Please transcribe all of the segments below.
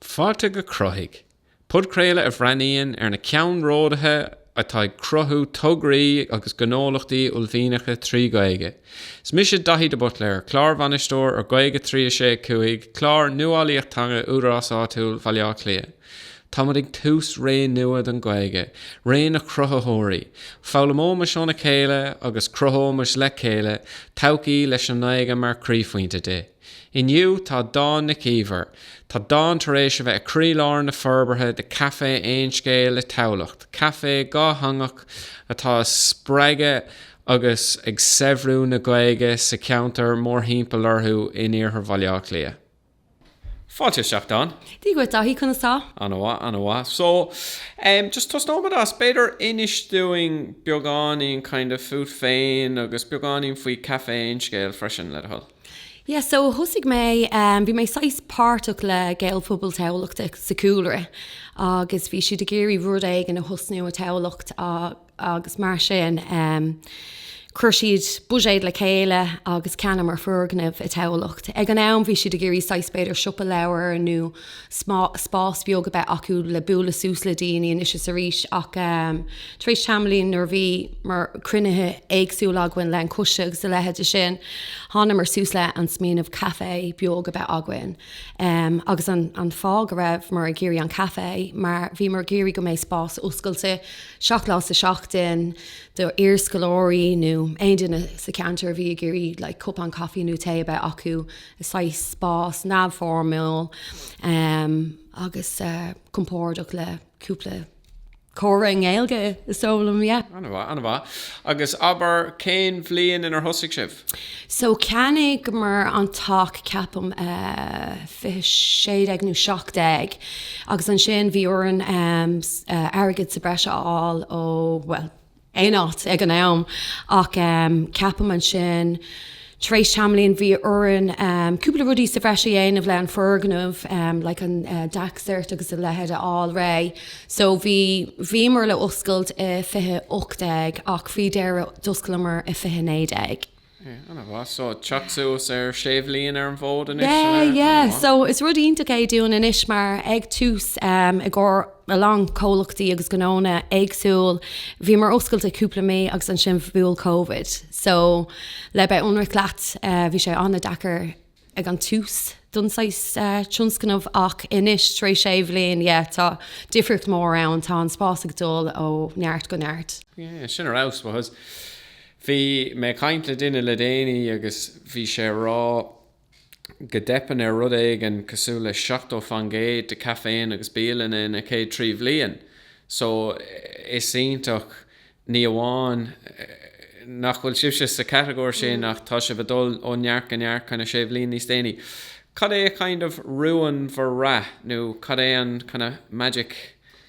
Fáilte go Cruthaigh, podchraoladh a bhreathnaíonn ar na ceannródaithe atá ag cruthú tograí agus gnólachtaí uaillmhianacha trí Ghaeilge. Is mise Daithí de Buitléir, Clárbhainisteoir ar Gaeilge 365, clár nuálaíocht teanga Údarás Áitiúil Bhaile Átha Cliath. Táimid ag tús ré nua don Ghaeilge, ré na cruthaitheoirí. Foghlaimeoimis óna chéile agus cruthóimis le chéile todhchaí leis an nGaeilge mar chroíphointe di. Inniu, tá Dawn Nic Íomhair, tá Dawn tar éis a bheith i croílár na forbartha de Café Aon Scéal i dTamhlacht, café dhátheangach atá ag spreagadh agus ag saibhriú na Gaeilge sa cheantar mórthimpeall orthu in Iarthar Bhaile Átha Cliath. Fáilte isteach, Dawn. Dia dhuit, Daithí, conas tá? Ana-mhaith, ana-mhaith. So, em, just tosnóimid as, b'fhéidir, inis dúinn beagáinín, kind of, fút féin agus beagáinín faoi Café Aon Scéal freisin, le do thoil. Yeah, so thosaigh mé, em, bhí mé saghas páirteach le Gaelphobal Thamhlachta sa chúlra agus bhí siad ag iarraidh rud éigin a thosnú i dTamhlacht a, agus mar sin chuir siad buiséad le chéile agus cheannaíomar foirgneamh i dTamhlacht. Ag an am bhí siad ag iarraidh saghas b'fhéidir siopa leabhar nó spás bheag a bheith acu le bualadh suas le daoine anois is arís ach tar éis tamaillín nuair a bhíomar cruinnithe éagsúla againn le an coiste agus a leithéide sin thángamar suas le an smaoineamh caife beag a bheith againn agus an fáth go rabhamar ag iarraidh an caife mar bhíomar ag iarraidh go mbeidh spás oscailte Seacht lá sa seachtain do iarscoláirí nó aon duine sa cheantar a bhí ag iarraidh like cupán caife nó tae a bheith acu i saghas spás neamhfhoirmiúil um agus eh compordach le cúpla comhrá i nGaeilge is dóigh liom, yeah. Ana mhaith, ana mhaith. Agus abair, cén bhliain inar thosaigh sibh? So cheannaíomar an teach, ceapaim, 2016 nó 17, agus ansin bhí orainn airgead sa bhreis a fháil ó, bhuel, aon áit ag an am. Ach ceapaim ansin, tar éis tamaillín, bhí orainn cúpla rudaí sa bhreis a dhéanamh le an foirgneamh, like an DAC cert agus a leithéid a fháil réidh. So bhí, bhíomar le oscailt i 2018 ach faoi dheireadh d'osclomar i 2019. Yeah, ana mhaith. So teacht suas ar sé bhliain ar an bhfód anois, yeah, ana mhaith. Yeah, yeah. So is rud iontach é dúinn anois mar ag tús, um, i gcomhair a lán comhlachtaí agus gnónna éagsúil, bhíomar oscailte cúpla mí agus ansin bhuail Covid. So le bheith ionraic leat, eh, bhí sé ana-deacair. ag an tús don saghas tionscnamh ach anois tar éis sé bhliain yeah tá difríocht mhór ann tá an spás ag dul ó neart go neart. Yeah, sin ar fheabhas because bhí mé ag caint le duine le déanaí agus bhí sé ag rá go dteipeann ar rud éigin cosúil le 70 faoin gcéad de chaiféanna agus bialanna ina gcéad trí bhliain so is iontach Ní amháin nach bhfuil sibhse sa chatagóir sin ach tá sibh ag dul ó neart go neart kinda sé bhliain níos déanaí. Cad é kind of rún bhur rath nó cad é an kinda magic,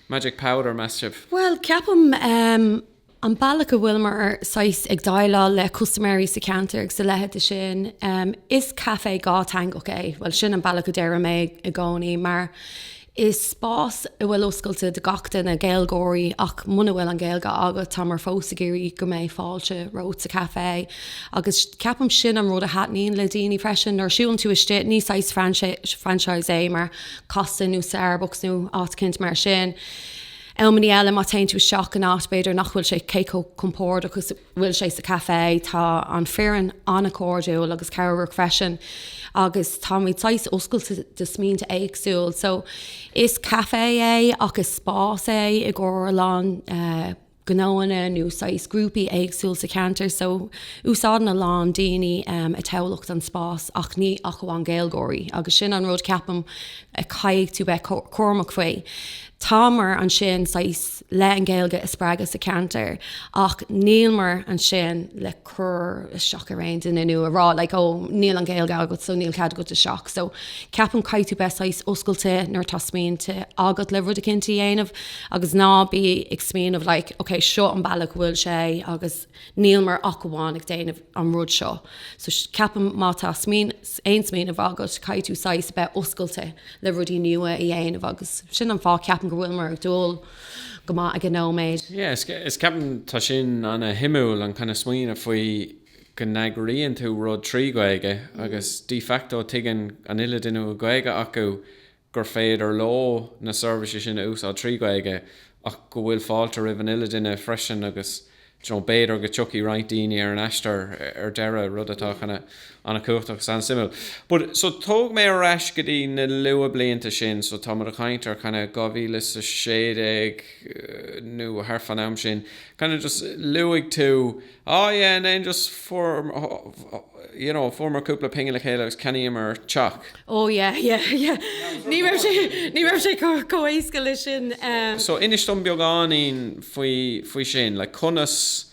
magic powder a mheas sibh? Bhuel, ceapaim ehm an bealach a bhfuileamar saghas ag déileáil le custaiméirí sa cheantar agus a leitheide sin ehm is café dátheangach é, bhuel sin an bealach a déarfaidh mé i gcónaí mar Is spás a bhfuil oscailte do gach duine, Gaeilgeoirí ach muna bhfuil an Ghaeilge agat, táimear fós ag iarraidh go mbeidh fáilte romhat sa café. Agus ceapaim sin an rud a thaitníonn le daoine freisin, nuair a siúlann tú istigh, ní saghas franchise é mar Costa nó Starbucks nó áit eicínt mar sin. Amannaí eile má téann tú isteach in áit b'fhéidir nach bhfuil sé cé chomh compordach agus a bhfuil sé sa café. Tá an foireann an-chairdiúil agus cabhrach freisin agus táimid saghas oscailte do smaointe éagsúil. So is café é ach is spás é i gcomhair a lán gnóanna nó saghas grúpaí éagsúil sa cheantar so úsáideann a lán daoine i dTamhlacht an spás ach ní ach amháin Gaeilgeoirí agus sin an rud ceapaim a chaithfidh tú bheith cúramach faoi. Táimear ansin saghas. le an Ghaeilge a spreagadh sa cheantar ach nílimear ansin le cur isteach ar aon duine nó a rá like oh níl an Ghaeilge agat so níl cead agat isteach. So ceapaim caithfidh tú bheith saghas oscailte nuair atá smaointe agat le rud eicínt a dhéanamh agus ná bí ag smaoineamh like ok seo an bealach a bhfuil sé agus Nílimear ach amháin ag déanamh an rud seo. So ceapaim má tá aon smaoineamh agat, caithfidh tú saghas a bheith oscailte le rudaí nua a dhéanamh agus sin an fáth ceapaim go bhfuileamar ag dul go maith ag an nóiméad. Yeah, is ceapaim tá sin an-suimiúil, an kinda smaoineamh faoi go n-eagraíonn tú rud trí Gaeilge agus de facto tuigeann an uile duine go bhfuil Gaeilge acu, gur féidir leo na seirbhísí sin a úsáid trí Ghaeilge ach go bhfuil fáilte roimh an uile duine freisin agus you know b'fhéidir go dtiocfaidh roinnt daoine ar an aistear ar deireadh, rud atá kinda an-chumhachtach agus an-suimiúil. But, so tóg mé ar ais go dtí na luath blianta sin, so táimid ag caint ar kinda 2016 nó thart faoin am sin, kinda just luaigh tú, Oh yeah, and then just you know, fuaireamar cúpla pingin le chéile agus cheannaíomar teach. Oh yeah, yeah, yeah. Ní raibh sé, ní raibh sé chomh éasca leis sin. Um... So inis dom beagáinín faoi, faoi sin, like, conas,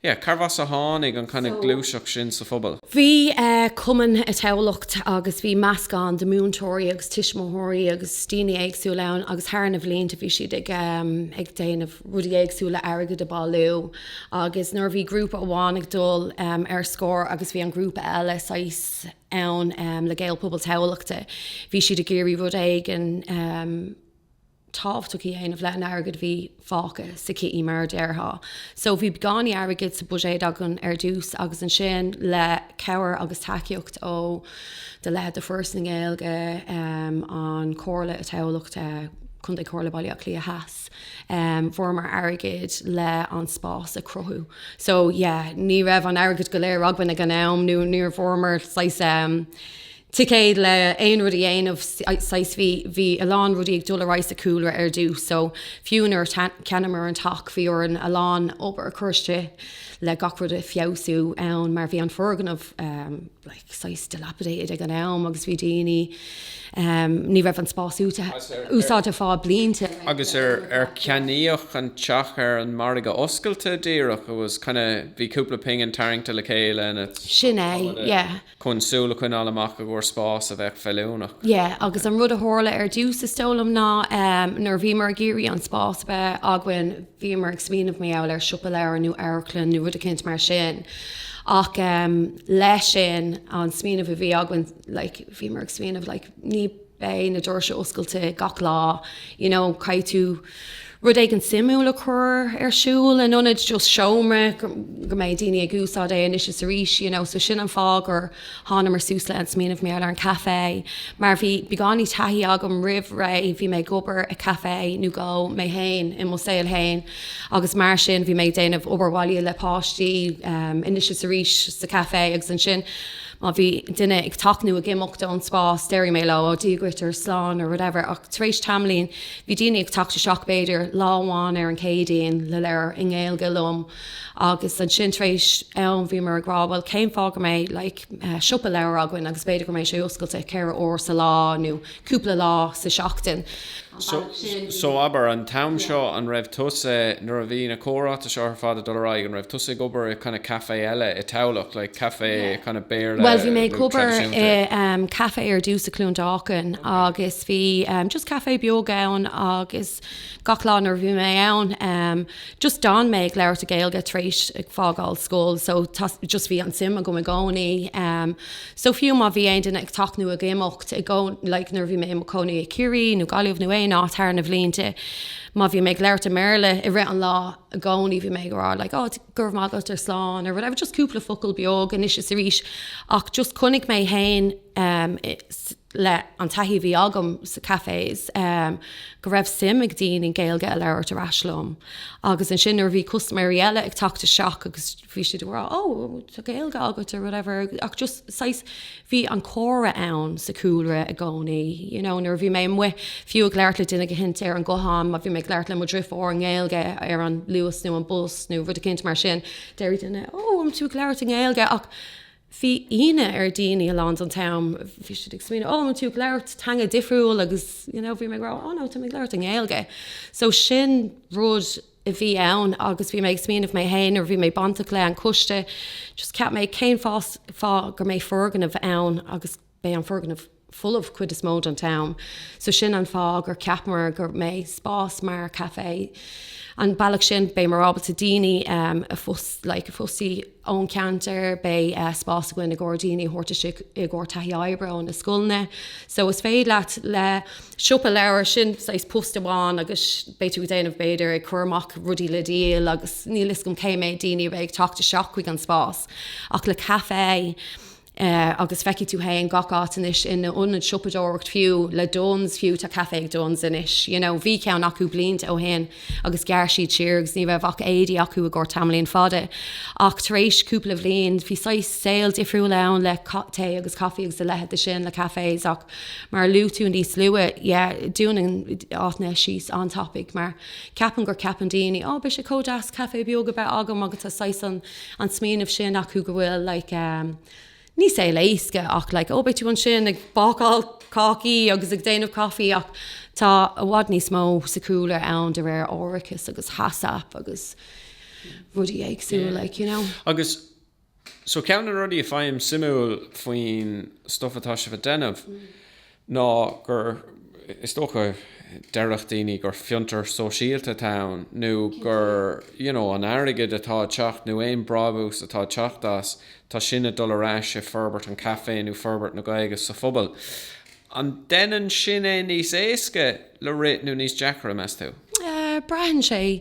yeah, cárb as a tháinig an kind of gluaiseacht sin sa phobal? Bhí uh, cumann i Tamhlacht agus bhí meascán de múinteoirí agus tuismitheoirí agus daoine éagsúil ann agus thar na bhlianta bhí siad ag, um, ag déanamh rudaí éagsúla le airgead a bailiú agus nuair a bhí grúpa amháin ag dul ar scor agus bhí an grúpa eile saghas ann le Gael Pobal Tamhlachta, bhí siad ag iarraidh rud éigin tábhachtach a dhéanamh le an airgid a bhí fágtha sa kitty mar a déarfá. So bhí beagáinín airgid sa budget againn ar dtús agus ansin le cabhair agus tacaíocht ó de leithéid de Foras na Gaeilge, an Chomhairle Tamhlachta, Contae Chomhairle Baile Átha Cliath Theas. Fuaireamar airgead le an spás a cruthú. So yeah, ní raibh an airgead go léir againn ag an am nó níor bhfuaireamar saghas ehm, ticéad le aon rud a dhéanamh saghas bhí, bhí a lán rudaí ag dul ar aghaidh sa chúlra ar dtús so fiú nuair a cheannaíomar an teach bhí orainn a lán obair a chur isteach le gach rud a feabhsú ann mar bhí an foirgneamh ehm, saghas dilapidated ag an am agus bhí daoine, ní raibh an spás úsáidte le blianta. Agus ar ar ceannaíodh an teach ar an margadh oscailte díreach, it was kinda, bhí cúpla pingin tarraingte le chéile and it, Sin é, yeah. chun súil a choinneáil amach i gcomhair spás a bheadh feiliúnach. Yeah, agus an rud a tharla ar dtús is dóigh liom ná nuair a bhíomar ag iarraidh an spás a bheith againn, Bhíomar ag smaoineamh maybe ar siopa leabhar nó amharclann nó rud eicínt mar sin. Ach leis sin, an smaoineamh a bhí againn, like, bhíomar ag smaoineamh, like, ní beidh na doirse oscailte gach lá, you know, caithfidh tú rud éigin suimiúil a chur ar siúl in ionad just seomra go go mbeidh daoine ag úsáid é anois is arís, you know. So sin an fáth gur Thángamar suas le an smaoineamh maybe ar an caife mar bhí beagáinín taithí agam roimh ré, bhí mé ag obair i caife nó dhó mé féin i mo saol féin agus mar sin bhí mé ag déanamh obair bhaile le páistí anois is arís sa caife agus ansin má bhí duine ag teacht nó ag imeacht ón spás déarfaidh mé leo ó Dia dhuit or slán or whatever ach tar éis tamaillín bhí daoine ag teacht isteach b'fhéidir lá amháin ar an Céadaoin le leabhar i nGaeilge liom Agus ansin tar éis am bhíomar ag rá, bhuel cén fáth nach mbeidh like siopa leabhar againn agus b'fhéidir go mbeidh sé oscailte ceithre huair sa lá nó cúpla lá sa seachtain. So abair, an t-am seo an raibh tusa, nuair a bhí na comhráite seo ar fad ag dul ar aghaidh, an raibh tusa ag obair i kind of café eile i Tamhlacht, like café kind of Béarla tradisiúnta? Bhuel bhí mé ag obair i café ar dtús i Cluain Dolcáin agus bhí just café beag ann agus Gach lá nuair a bhí mé ann em just d'fhan mé ag labhairt i Gaeilge tar éis ag fágáil scoil so just bhí an suim agam i gcónaí em so fiú má bhí aon duine ag teacht nó ag imeacht i gcónaí like nuair a bhí mé i mo chónaí i Ciarraí nó Gaillimh nó aon áit thar na bhlianta má bhí mé ag labhairt i mBéarla i rith an lá i gcónaí bhí mé ag rá like oh go raibh maith agat or slán or whatever just cúpla focal beag anois is arís ach just chonaic mé fhéin le an taithí a bhí agam sa cafés, go raibh suim ag daoine Gaeilge a labhairt ar ais liom. Agus ansin nuair a bhí custaiméirí eile ag teacht isteach agus bhí siad ag rá Ó, tá Gaeilge agat or whatever. Ach just saghas, bhí an comhrá ann sa cúlra i gcónaí. You know, nuair a bhí mé amuigh fiú ag labhairt le duine éicint ar an guthán, má bhí mé ag labhairt le mo dheartháir i nGaeilge ar an luas nó an bus nó rud éicint mar sin, déarfadh duine, Ó, an tú ag labhairt i nGaeilge? Ach bhí ionadh ar daoine a lán den t-am, bhí siad ag smaoineamh oh an tú ag labhairt teanga difriúil agus you know bhí mé ag rá oh no tá mé ag labhairt i nGaeilge. So sin rud a bhí ann agus bhí mé ag smaoineamh mé féin nuair a bhí mé bainteach le an coiste just cheap mé cén fáth gur mbeidh foirgneamh ann agus Beidh an foirgneamh folamh cuid is mó den t-am so sin an fáth gur ceapamar go mbeidh spás mar café. An bealach sin beidh muid ábalta daoine like a fostaí ón ceantar, beidh spás againn i gcomhair daoine a thabhairt istigh i gcomhair taithí oibre ó na scoileanna. So is féidir leat le siopa leabhar, sin saghas post amháin agus beidh tú ag déanamh b'fhéidir ag cur amach rudaí le díol agus níl fhios agam cé méid daoine a bheidh ag teacht isteach chuig an spás ach le café, agus feicfidh tú féin gach áit anois, in ionaid siopadóireacht fiú, le Dunnes fiú, tá café ag Dunnes anois, you know, bhí ceann acu blianta ó shin agus ghearr siad siar agus ní raibh ach éadaí acu i gcomhair tamaillín fada ach tar éis cúpla bhliain bhí saghas saol difriúil ann le tae agus caife agus a leithéid de sin le cafés ach mar a luaigh tú níos luath, yeah, dúnann áiteanna síos an-tapaidh mar ceapann gur ceapann daoine, oh, beidh sé chomh deas café beag a bheith agam agus tá saghas an. An smaoineamh sin acu go bhfuil like ní saol éasca ach like ó beidh tú ansin ag bácáil cácaí agus ag déanamh caife ach tá i bhfad níos mó sa chúlra ann de réir árachas agus HACCP agus rudaí éagsúil like you know. Agus so ceann de na rudaí a faighim suimiúil faoin stuff atá sibh ag déanamh ná gur, is dócha, déarfadh daoine gur fiontar sóisialta atá ann nó gur, you know, an airgead atá ag teacht nó aon brábús atá ag teacht as, tá sin ag dul ar ais i forbairt an café nó forbairt na Gaeilge sa phobal. An déanann sin é níos éasca? le rith nó níos deacra, meas tú? Braitheann sé.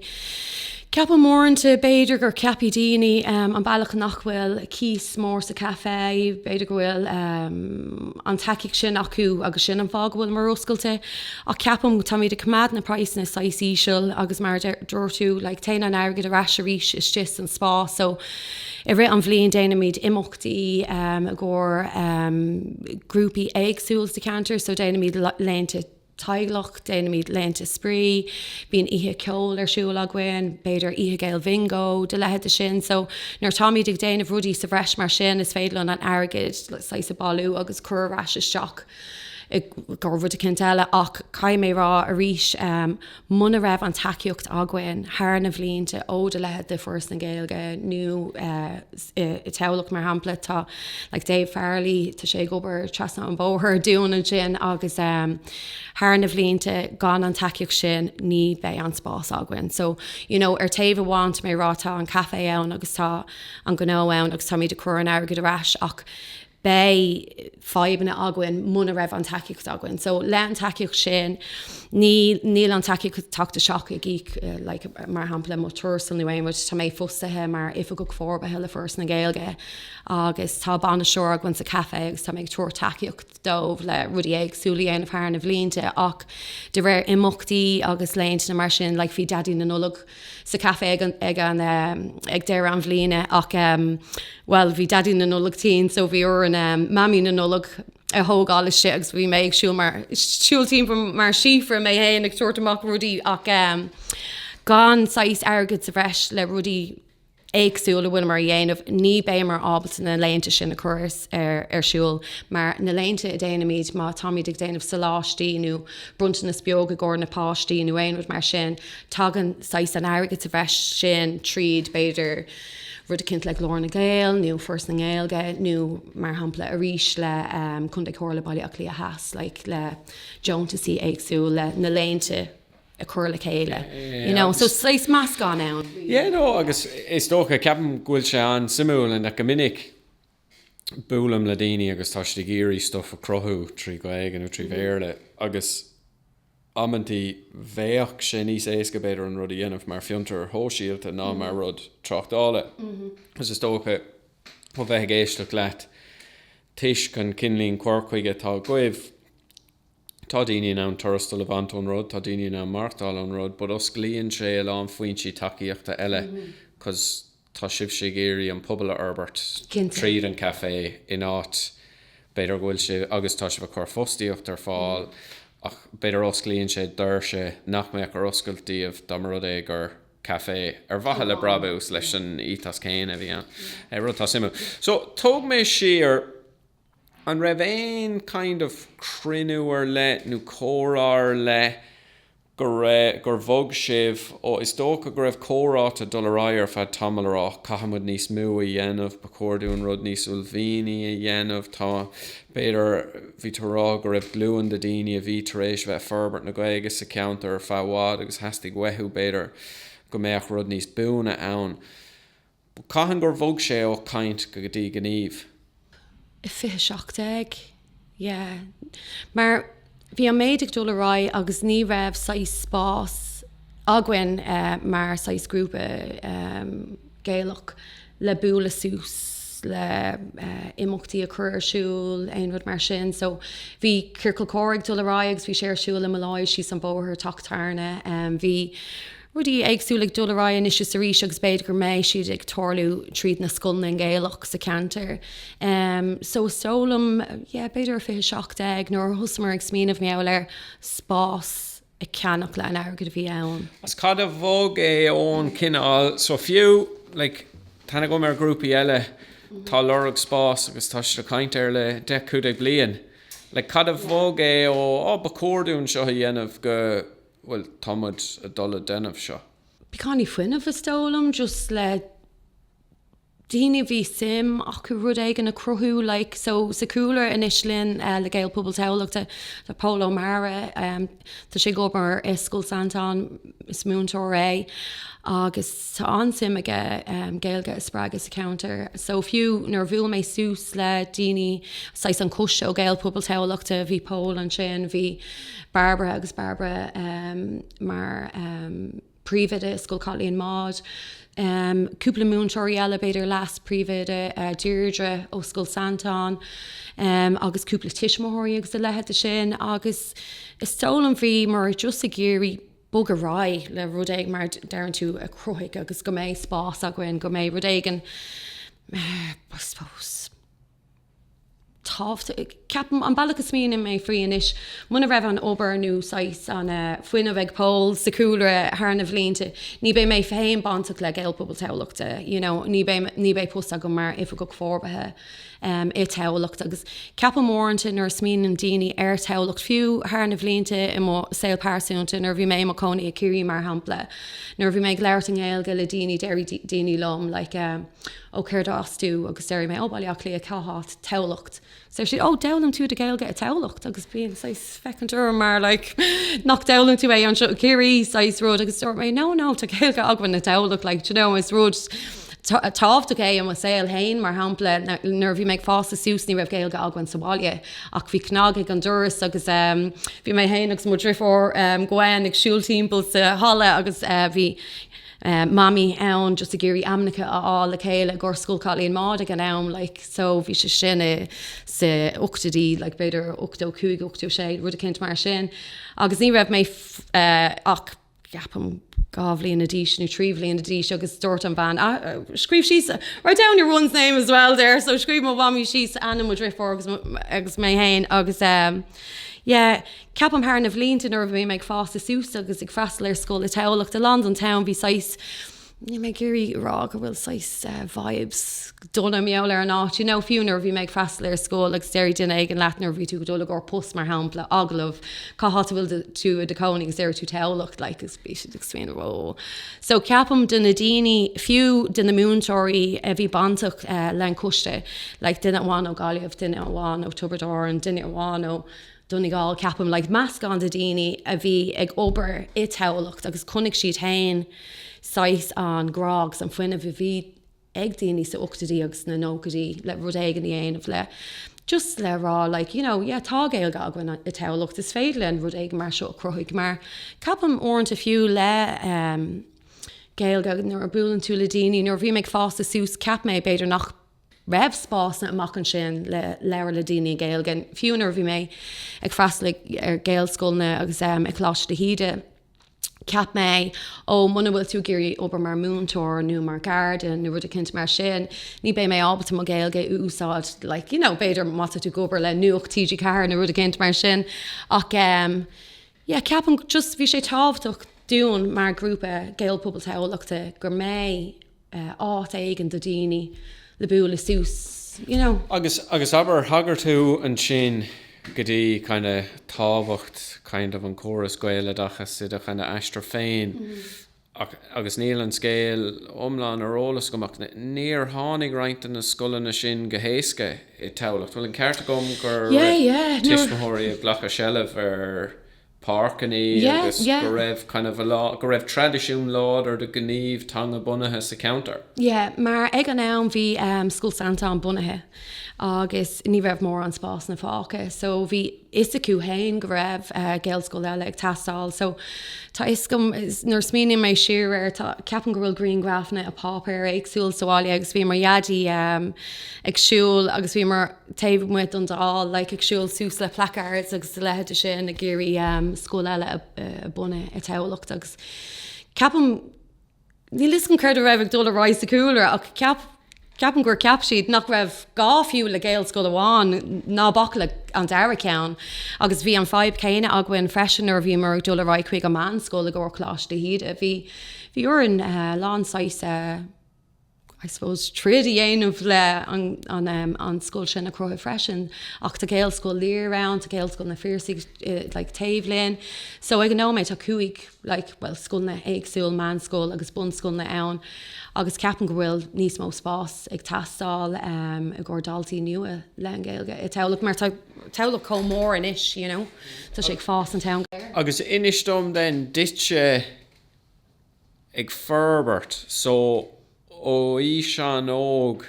Ceapaim uaireanta b'fhéidir gur ceapfaidh daoine an bealach nach bhfuil cíos mór sa caife, b'fhéidir go bhfuil an tacaíocht sin acu agus sin an fáth go bhfuilimar oscailte. Ach ceapaim go táimid ag coimeád na praghsanna saghas íseal agus mar a dúirt tú, like téann an airgead ar ais arís istigh san spá. So i rith an bhliain déanaimid imeachtaí i gcomhair grúpaí éagsúil sa cheantar, so déanaimid laethanta, teaghlaigh, déanaimid laethanta spraoi, bíonn oíche ceoil ar siúl againn, b'fhéidir oíche Ghaeilge bhingó, do leithéid de sin. So nuair atáimid ag déanamh rudaí sa bhreis mar sin, is féidir linn an airgid saghas a bailiú agus cur ar ais isteach i rud eicínt eile ach caithfidh mé a rá arís, Muna raibh an tacaíocht againn thar na bhlianta ó do leithéid de Foras na Gaeilge nó i dTamhlacht, mar shampla, tá like Dave Farrelly, tá sé ag obair trasna an bhóthair dúinn ansin agus thar na bhlianta gan an tacaíocht sin ní bheidh an spás againn. So, you know, ar taobh amháin tá mé ag rá tá an caifé ann agus tá an gnó ann agus táimid ag cur an airgid ar ais ach beidh fadhbanna againn muna raibh an tacaíocht againn. So, le an tacaíocht sin, níl an tacaíocht tachtaiseach ag íoc, like, mar shampla, mo thuarastal nó aon rud. Táimid fostaithe mar Oifigeach Forbartha le Foras na Gaeilge agus tá bainisteoir againn sa caife agus táimid ag tabhairt tacaíocht dóibh le rudaí éagsúla a dhéanamh thar na bhlianta ach de réir imeachtaí agus laethanta nó mar sin, like, bhí Daidí na Nollag sa caife ag deireadh an bhliana ach bhuel bhí Daidí na Nollag tinn so bhí orainn Mamaí na Nollag a thógáil istigh agus bhí mé ag siúl ag siúl timpeall mar síofra mé fhéin ag tabhairt amach rudaí ach gan saghas airgid sa bhreis le rudaí éagsúil a bhfuilimar a dhéanamh, ní bheimir ábalta na laethanta sin a chur ar siúl. Mar na laethanta a déanaimid, má táimid ag déanamh soláistí nó bronntanas beag i gcomhair na páistí nó aon rud mar sin, tagann saghas an airgid sa bhreis sin tríd, b'fhéidir, rud eicínt le Glór na nGael nó Foras na nGaeilge nó mar shampla arís le Contae Chomhairle Baile Átha Cliath Theas, like le deontasaí éagsúil le na laethanta. a chur le chéile. You know, so is sórt meascán ann. Yeah, no, agus is dócha, ceapaim go bhfuil sé an-suimiúil in that go minic buailim le daoine agus tá siad ag iarraidh stuff a chruthú trí Ghaeilge nó trí Bhéarla agus amanntaí bheadh sé níos éasca b'fhéidir an rud a dhéanamh mar fiontar shóisialta ná mar rud tráchtála agus is dócha ó bheith ag éisteacht leat toisc an cineálín cur chuige atá agaibh, Tá daoine in ann tuarastal a bhaint ón rud, tá daoine in ann maireachtáil ón rud but osclaíonn sé a lán foinsí tacaíochta eile 'cause tá sibhse ag iarraidh an pobal a fhorbairt tríd an café in áit b'fhéidir go bhfuil sibh, agus tá sibh ag cur fostaíocht ar fáil ach b'fhéidir osclaíonn sé doirse nach mbeadh ar oscailt daoibh dá mba rud é gur café ar mhaithe le brabús leis an ethos céanna a bhí ann. Rud atá suimiúil. So tóg mé siar. An raibh aon kind of cruinniú ar leith nó comhrá ar leith go raibh, gur bhog sibh ó, is dócha go raibh comhráite ag dul ar aghaidh ar feadh tamaill a rá caithfidh muid níos mó a dhéanamh, ba chóir dúinn rud níos uaillmhianaí a dhéanamh, tá, b'fhéidir, bhí tú ag rá go raibh glúin de daoine a bhí tar éis a bheith ag forbairt na Gaeilge sa cheantar ar feadh i bhfad agus theastaigh uathu, b'fhéidir, go mbeadh rud níos buaine ann. Cathain gur bhog sé ó caint go dtí gníomh? I 2017, yeah. Mar bhí an méid ag dul ar aghaidh agus ní raibh saghas spás againn mar saghas grúpa Gaelach le bualadh suas le imeachtaí a chur ar siúl, aon rud mar sin. So bhí Ciorcal Comhrá ag dul ar aghaidh agus bhí sé ar siúl i Molloy's, síos an bóthar, Teach Tabhairne. Bhí. rudaí éagsúla ag dul ar aghaidh anois is arís agus b'fhéidir go mbeidh siad ag tarlú tríd na scoileanna Gaelach sa cheantar. So is dóigh liom, yeah, b'fhéidir i fiche seacht déag nuair a thosamar ag smaoineamh i ndáil le spás a cheannach le an airgead a bhí ann. Agus cad a bhog é ón chineál, so fiú, like, tá aithne agam ar ghrúpaí eile atá ag lorg spás agus tá siad ag caint air le deich, cúig déag bliain. Like, cad a bhog é ó, oh, ba chóir dúinn seo a dhéanamh go. Bhuel, tá muid ag dul a déanamh seo. Beagáinín fuinneamh is dóigh liom, just le daoine a bhí suim acu rud éigin a cruthú, like, so sa cúlra anois linn le Gaelphobal Thamhlachta, tá Pól Ó Meadhra, tá sé ag obair i Scoil Santain, is múinteoir é, agus. Tá an-suim aige Gaeilge a spreagadh sa cheantar so fiú nuair a bhuail mé suas le daoine, saghas an Coiste ó Gaelphobal Thamhlachta, bhí Pól ansin, bhí Barbara agus Barbara mar príomhoide i Scoil Chaitlín Maude, cúpla múinteoirí eile b'fhéidir, leas-príomhoide Deirdre ó Scoil Santain agus cúpla tuismitheoirí agus a leithid de sin agus is dóigh liom bhí, mar just ag iarraidh, bogadh ar aghaidh le rud éigin, mar a deireann tú, a chruthú agus go mbeidh spás againn, go mbeidh rud éigin, I suppose, tábhachtaí. Ceapaim, an bealach a smaoiním mé faoi anois, muna raibh an obair nó saghas an fuinneamh ag Pól sa chúlra thar na bhlianta, ní bheidh mé féin bainteach le Gaelphobal Thamhlachta, you know, ní bheidh post agam mar Oifigeach Forbartha. i dTamhlacht agus ceapaim uaireanta nuair a smaoiníonn daoine ar Thamhlacht fiú thar na bhlianta i mo saol pearsúnta nuair a bhí mé i mo cónaí i Ciarraí mar shampla nuair a bhí mé ag labhairt i nGaeilge le daoine déarfaidh daoine liom like ó cé as tú agus déarfaidh mé ó Baile Átha Cliath cá háit Tamhlacht agus deir siad ó d'fhoghlaim tú do Ghaeilge i dTamhlacht agus bíonn saghas féachaint orm mar like nach d'fhoghlaim tú é anseo i gCiarraí saghas rud agus dúirt mé no no tá Gaeilge againn i dTamhlacht like do you know is rud tábhachtach é i mo saol féin mar shampla nuair a bhí mé ag fásta suas ní raibh Gaeilge againn sa bhaile ach bhí cnag ag an doras agus ehm bhí mé féin agus mo dheirfiúr ehm Gwen ag siúl timpeall sa halla agus eh bhí mamaí ann just ag iarraidh ainmneacha a fháil le chéile i gcomhair Scoil Chaitlín Maude ag an am like so bhí sé sin i sa ochtaidí like b'fhéidir ochtó cúig ochtó sé rud eicínt mar sin agus ní raibh mé ach ceapaim dhá bhliain d'aois nó trí bhliain d'aois agus dúirt an bhean ah scríobh síos write down your one's name as well there so scríobh mo mhamaí síos ainm mo dheirfiúr agus agus mé féin agus yeah Ceapaim thar na bhlianta nuair a bhí mé ag fásta suas agus ag freastal ar scoil i Tamhlacht, a lán don town bhí saghas, níl mé ag iarraidh a rá go bhfuil saghas vibes dona timpeall ar an áit, you know, fiú nuair a bhí mé ag freastal ar scoil agus déarfaidh duine éigin leat nuair a bhí tú ag dul i gcomhair post mar shampla, agallamh, cá háit a bhfuil do, tú i do chónaí agus déarfaidh tú Tamhlacht like agus bhí siad ag smaoineamh whoa. So ceapaim do na daoine, fiú do na múinteoirí a bhí bainteach le an coiste like duine amháin ó Gaillimh, duine amháin ó Tiobraid Árann, duine amháin ó, Donegal, ceapaim, like meascán de daoine a bhí ag obair i dTamhlacht agus chonaic siad féin saghas an grá agus an fuinnimh a bhí ag daoine sa ochtóidí agus sna nóchaidí le rud éigin a dhéanamh le just le rá like you know yeah tá Gaeilge againn i dTamhlacht is féidir linn rud éigin mar seo a chruthaigh mar ceapaim uaireanta fiú le um Gaeilge nuair a buaileann tú le daoine nuair a bhí mé ag fásta suas cheap mé b'fhéidir nach raibh spásanna amach ansin le labhairt le daoine i nGaeilge. Fiú nuair a bhí mé ag freastal ar Ghaelscoileanna agus i Coláiste de hÍde, cheap mé, ó, muna bhfuil tú ag iarraidh obair mar mhúinteoir nó mar gharda nó rud eicínt mar sin, ní beidh mé ábalta mo Ghaeilge a úsáid, like, you know, b'fhéidir má tá tú ag obair le Nuacht TG4 nó rud eicínt mar sin. Ach, em, yeah, ceapaim just, bhí sé tábhachtach dúinn mar ghrúpa Gaelphobal Thamhlachta go mbeidh, áit éigin do daoine le bualadh suas, you know. Agus, agus abair, thagair tú ansin go dtí kind of tábhacht kind of an córas Gaeloideachas i do kind of aistear féin agus níl an scéal iomlán ar eolas agam ach níor tháinig roinnt de na scoileanna sin go héasca i Tamhlacht, bhfuil an ceart agam gur tuismitheoirí ag glacadh seilbh ar páirceannaí agus go raibh kind of a lot, go raibh traidisiún láidir de ghníomh teanga bunaithe sa cheantar. Yeah, mar ag an am bhí ehm Scoil Santáin bunaithe agus ní raibh mórán spásanna fágtha so bhí fhios acu fhéin go raibh eh Gaelscoil eile ag teastáil so tá fhios agam nuair a smaoiníonn mé siar air tá, ceapaim go bhfuil grianghrafanna i bpáipéir éagsúla sa bhaile agus bhí mo Dhaidí ehm ag siúl agus bhíomar taobh amuigh den Dáil, like, ag siúl suas le placards agus a leithéid de sin, ag iarraidh um, scoil eile a, a bunadh i Tamhlacht agus ceapaim níl fhios agam céard a raibh ag dul ar aghaidh sa cúlra ach ceap ceapaim gur ceap siad nach raibh gá fiú le gaelscoil amháin ná bac le an dara ceann agus bhí an fadhb céanna againn freisin nuair a bhíomar ag dul ar aghaidh chuig an meánscoil i gcomhair Coláiste de hÍde. Bhí, bhí orainn uh, a lán saghas uh, I suppose, troid a dhéanamh le an scoil sin a cruthú freisin. Ach tá Gaelscoil Lir ann, tá Gaelscoil na Fuinseoige like taobh linn. So ag an nóiméad tá cúig like bhuel scoileanna éagsúil, meánscoil agus bunscoileanna ann agus ceapaim go bhfuil níos mó spásanna ag teastáil um i gcomhair daltaí nua le an Gaeilge i Tamhlacht mar tá Tamhlacht chomh mór anois you know tá sé ag fás an town. Agus inis dom then duitse ag forbairt so ó aois an-óg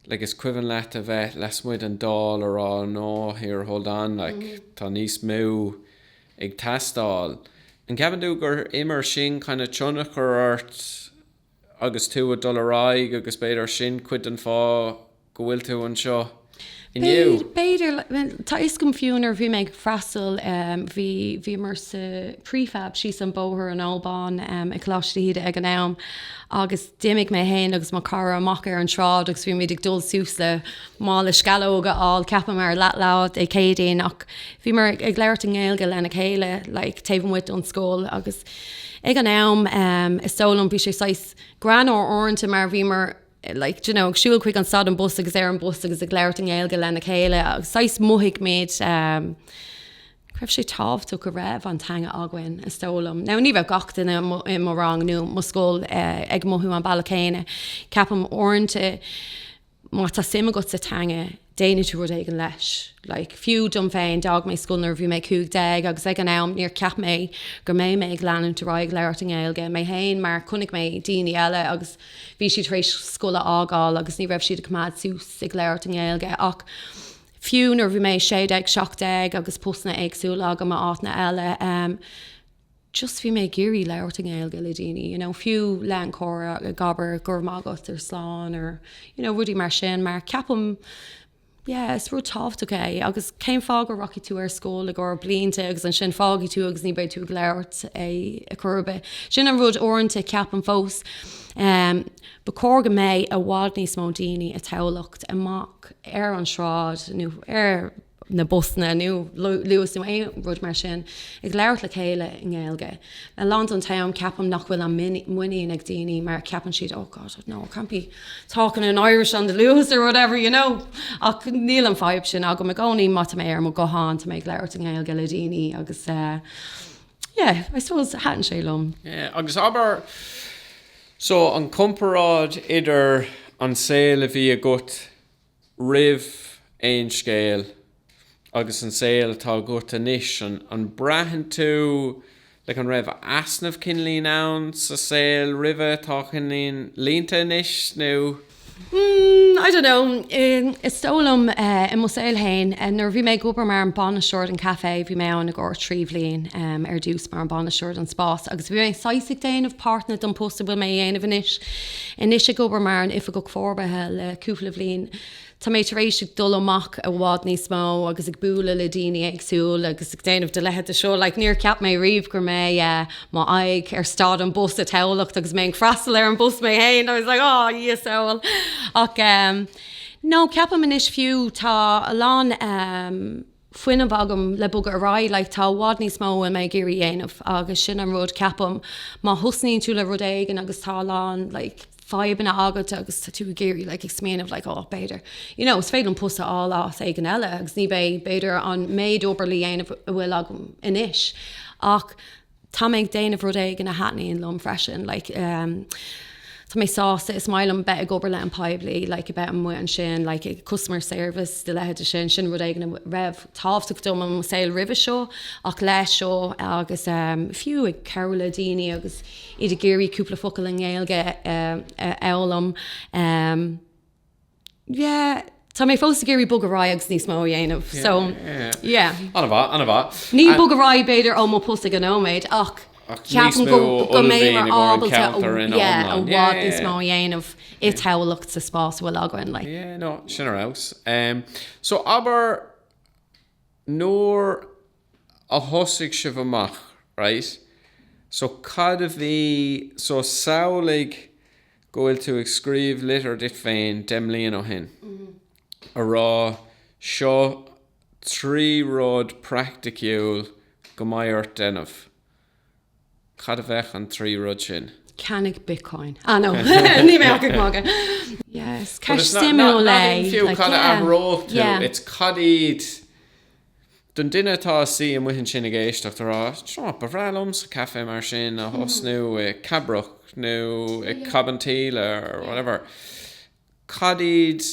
like is cuimhin leat a bheith lasmuigh den Dáil ag rá no here hold on like tá níos mó ag teastáil an gceapann tú gur imir sin kind of tionchar ort agus tú a' dul ar aghaidh agus b'fhéidir sin cuid den fáth go bhfuil tú anseo inniu. B'fhéidir, tá fhios agam fiú nuair bhí mé ag freastal, bhí, bhíomar sa prefab síos an bóthar in Old Bawn i Coláiste de hÍde ag an am agus d'imigh mé fhéin agus mo chara amach ar an tsráid agus bhí muid ag dul suas le, le mála sceallóga a fháil, ceapamar leath lá Dé Céadaoin ach bhíomar ag labhairt i nGaeilge lena chéile like taobh amuigh don scoil agus ag an am is dóigh liom bhí sé saghas greannmhar uaireanta mar bhíomar like, do you know, ag siúl chuig an stad an bus agus ar an bus agus ag labhairt i nGaeilge lena chéile agus saghas mothaigh muid um, go raibh sé tábhachtach go raibh an teanga againn is dóigh liom. Now ní raibh gach duine i mo rang nó mo scoil eh, ag mothú an bealach céanna. Ceapaim uaireanta má tá suim agat sa teanga déanfaidh tú rud éigin leis. Like, fiú dom féin, d'fhág mé scoil nuair a bhí mé cúig déag agus ag an am níor cheap mé go mbeidh mé ag leanúint ar aghaidh ag labhairt i nGaeilge mé féin mar chonaic mé daoine eile agus bhí siad tar éis scoil a fhágáil agus ní raibh siad ag coimeád suas ag labhairt i nGaeilge ach fiú nuair a bhí mé sé déag, seacht déag agus postanna éagsúla agam i áiteanna eile, Just bhí mé ag iarraidh labhairt i nGaeilge le daoine, you know, fiú leath an chomhrá, ag abair go raibh maith agat, or slán, or, you know, rudaí mar sin, mar ceapaim, yeah, is rud tábhachtach é, agus cén fáth go rachaidh tú ar scoil i gcomhair blianta agus ansin fágfaidh tú agus ní beidh tú ag labhairt é ar chor ar bith. Sin an rud uaireanta, ceapaim fós. Ba chóir go mbeidh i bhfad níos mó daoine i dTamhlacht amach ar an sráid nó ar, na busanna nó luas nó aon rud mar sin ag labhairt le chéile i nGaeilge. A lán den t-am ceapaim nach bhfuil an muinín ag daoine mar ceapann siad oh God no, I can't be talking in Irish on the luas or whatever, you know. Ach níl an fhadhb sin agam i gcónaí, má tá mé ar mo ghuthán, tá mé ag labhairt i nGaeilge le daoine agus yeah, I suppose thaitníonn sé liom. Yeah, agus abair, so an comparáid idir an saol a bhí agat roimh Aon Scéal agus an saol atá agat anois, an an braitheann tú, like an raibh easnamh de chineál éigin ann sa saol roimhe atá cineál líonta anois nó? Hmm, I don't know, is dóigh liom i mo shaol fhéin, nuair a bhí mé ag obair mar an bainisteoir an café, bhí mé ann i gcomhair trí bhliain ar dtús mar an bainisteoir don spás agus bhí mé saghas ag déanamh páirteanna don post a bhfuil mé á dhéanamh anois. Anois ag obair mar an Oifigeach Forbartha le cúpla bhliain, tá mé tar éis ag dul amach i bhfad níos mó agus ag bualadh le daoine éagsúil agus ag déanamh do leithéid de seo. Like níor cheap mé riamh go mbeidh mo aghaidh ar stad an bus i Tamhlacht agus mé ag freastal ar an bus mé fhéin. I was like aw a Dhia sábháil. Ach em no ceapaim anois fiú tá a lán em. fuinneamh agam le bogadh ar aghaidh. Like, tá i bhfad níos mó a bhfuil mé ag iarraidh a dhéanamh agus sin an rud, ceapaim, má thosnaíonn tú le rud éigin agus tá a lán like fadhbanna agat agus tá tú ag iarraidh like ag smaoineamh like oh b'fhéidir you know is féidir liom post a fháil áit éigin eile agus ní bheidh b'fhéidir an méid obair le dhéanamh a bhfuil agam anois ach Tá mé ag déanamh rud éigin a thaitníonn liom freisin. Like um Tá mé sásta, is maith liom bheith ag obair le an poiblí, like a bheith amuigh ansin, like customer service, de leithéid de sin, sin rud éigin a raibh tábhachtach dom i mo saol roimhe seo, ach leis seo agus um fiú ag cabhrú le daoine agus iad ag iarraidh cúpla focal i nGaeilge a fhoghlaim um, Yeah, tá mé fós ag iarraidh bogadh ar aghaidh agus níos mó a dhéanamh, so yeah. Ana mhaith, ana mhaith. Ní bogadh ar aghaidh b'fhéidir ó mo post ag an nóiméad ach ceapaim go mbeidh muid ábalta i bhfad níos mó a dhéanamh i dTamhlacht sa spás a bhfuil againn, like. Yeah, no, sin ar fheabhas. Em, so abair nuair a thosaigh sibh amach, right, so cad a bhí, so samhlaigh go bhfuil tú ag scríobh litir duit féin deich mbliain ó shin a rá seo trí rud praiticiúil go mbeidh ort déanamh, cad a bheadh an trí rud sin? Ceannaigh Bitcoin. Ah no, níl mé ag magadh. Yes, ceist suimiúil é. Fiú cad a athródh tú, it's cad iad Don duine atá suí amuigh ansin ag éisteacht, a rá, right, ba bhreá liomsa caife mar sin a thosnú i Cabrach nó i Cabinteely or whatever, cad iad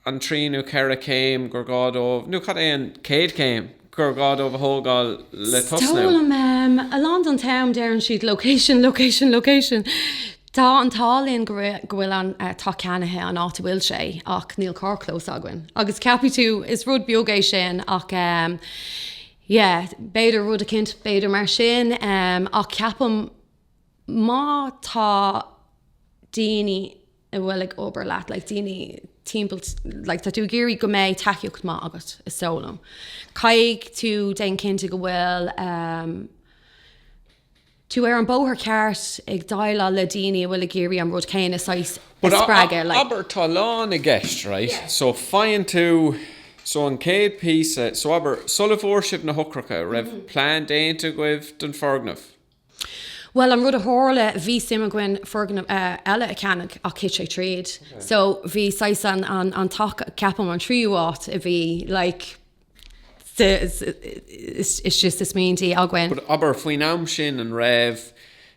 an trí nó ceithre céim gur gá dóibh, nó cad é an céad chéim, gur gá dóibh a thógáil le tosnú? Is dóigh liom a lán den t-am, deireann siad, location, location, location. Tá an t-ádh linn go bhfuil an teach ceannaithe an áit a bhfuil sé ach níl carrchlós againn. Agus ceapfaidh tú, is rud beag é sin ach ehm, yeah, b'fhéidir rud a chinntiú, b'fhéidir mar sin ehm, ach ceapaim má tá daoine a bhfuil ag obair leat, like daoine timpeall, like tá tú ag iarraidh go mbeidh tacaíocht maith agat, is dóigh liom. Caithfidh tú, déan cinnte go bhfuil ehm, tú ar an bóthar ceart ag déileáil le daoine a bhfuil ag iarraidh an rud céanna saghas a spreagadh, like. Abair, tá lán i gceist, right, so faigheann tú, so an chéad píosa, so abair, sula bhfuair sibh na heochracha, an raibh plean déanta agaibh don foirgneamh? Bhuel, an rud a tharla, bhí suim againn foirgneamh eile a cheannach ach thit sé tríd, so bhí saghas an, an, an teach, ceapaim, an tríú áit a bhí, like, It's just smaointe againn. Abair, faoin am sin, an raibh,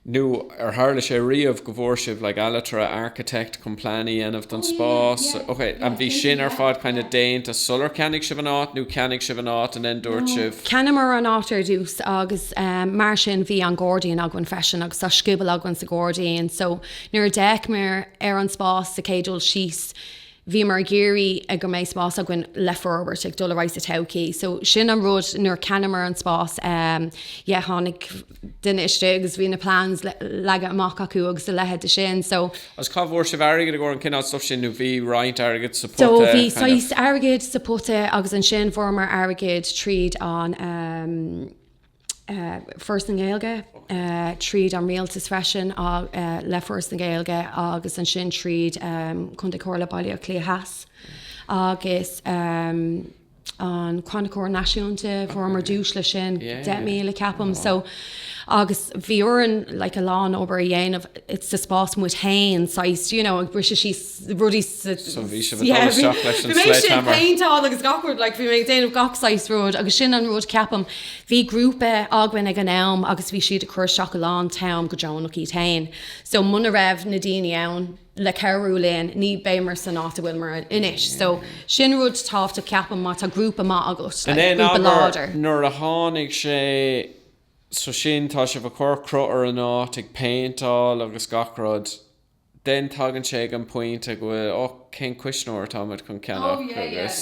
nó ar tharla sé riamh, go bhfuair sibh like ailtire, architect, chun plean a dhéanamh don spás? Ok, and bhí sin ar fad kind of déanta sular cheannaigh sibh an áit, nó cheannaigh sibh an áit and then dúirt sibh. Cheannamar an áit ar dtús agus mar sin bhí an gairdín againn freisin agus tá scioból againn sa ghairdín so nuair a d'fhéachamar ar an spás sa chéad dul síos, bhíomar ag iarraidh go mbeidh spás againn le forbairt, ag dul ar aghaidh sa todhchaí. So sin an rud, nuair a cheannamar an spás, yeah, tháinig duine isteach agus bhí na plans leagtha amach acu agus a leithéid de sin. So. Agus cá bhfuair sibh airgead i gcomhair an cineál stuff sin nó bhí roinnt airgid sa pota, kind of? So bhí saghas airgid sa pota agus ansin fuaireamar airgead tríd an, Foras na Gaeilge, tríd an Rialtas freisin, le Foras na Gaeilge agus ansin tríd Contae Chomhairle Baile Átha Cliath Theas agus an Chrannchur Náisiúnta, fuaireamar duais le sin, 10,000 ceapaim. So agus bhí orainn like a lán obair a dhéanamh, it's sa spás muid féin saghas, do you know, ag briseadh síos. rudaí sa. So bhí sibh ag dul isteach leis an sledge hammer. Bhí mé ag péinteáil agus gach rud, like bhí mé ag déanamh gach saghas rud agus sin an rud ceapaim. Bhí grúpa againn ag an am agus bhí siad ag cur isteach a lán t-am go deonach iad féin. So muna raibh na daoine ann le cabhrú linn ní bheimir san áit a bhfuilimar anois. So sin rud tábhachtach ceapaim má tá grúpa maith agat, like grúpa láidir. Nuair a tháinig sé, so sin tá sibh ag cur cruth ar an áit, ag péinteáil agus gach rud. Then tagann sé ag an pointe go bhfuil ó cén cuisneoir atá muid chun ceannach agus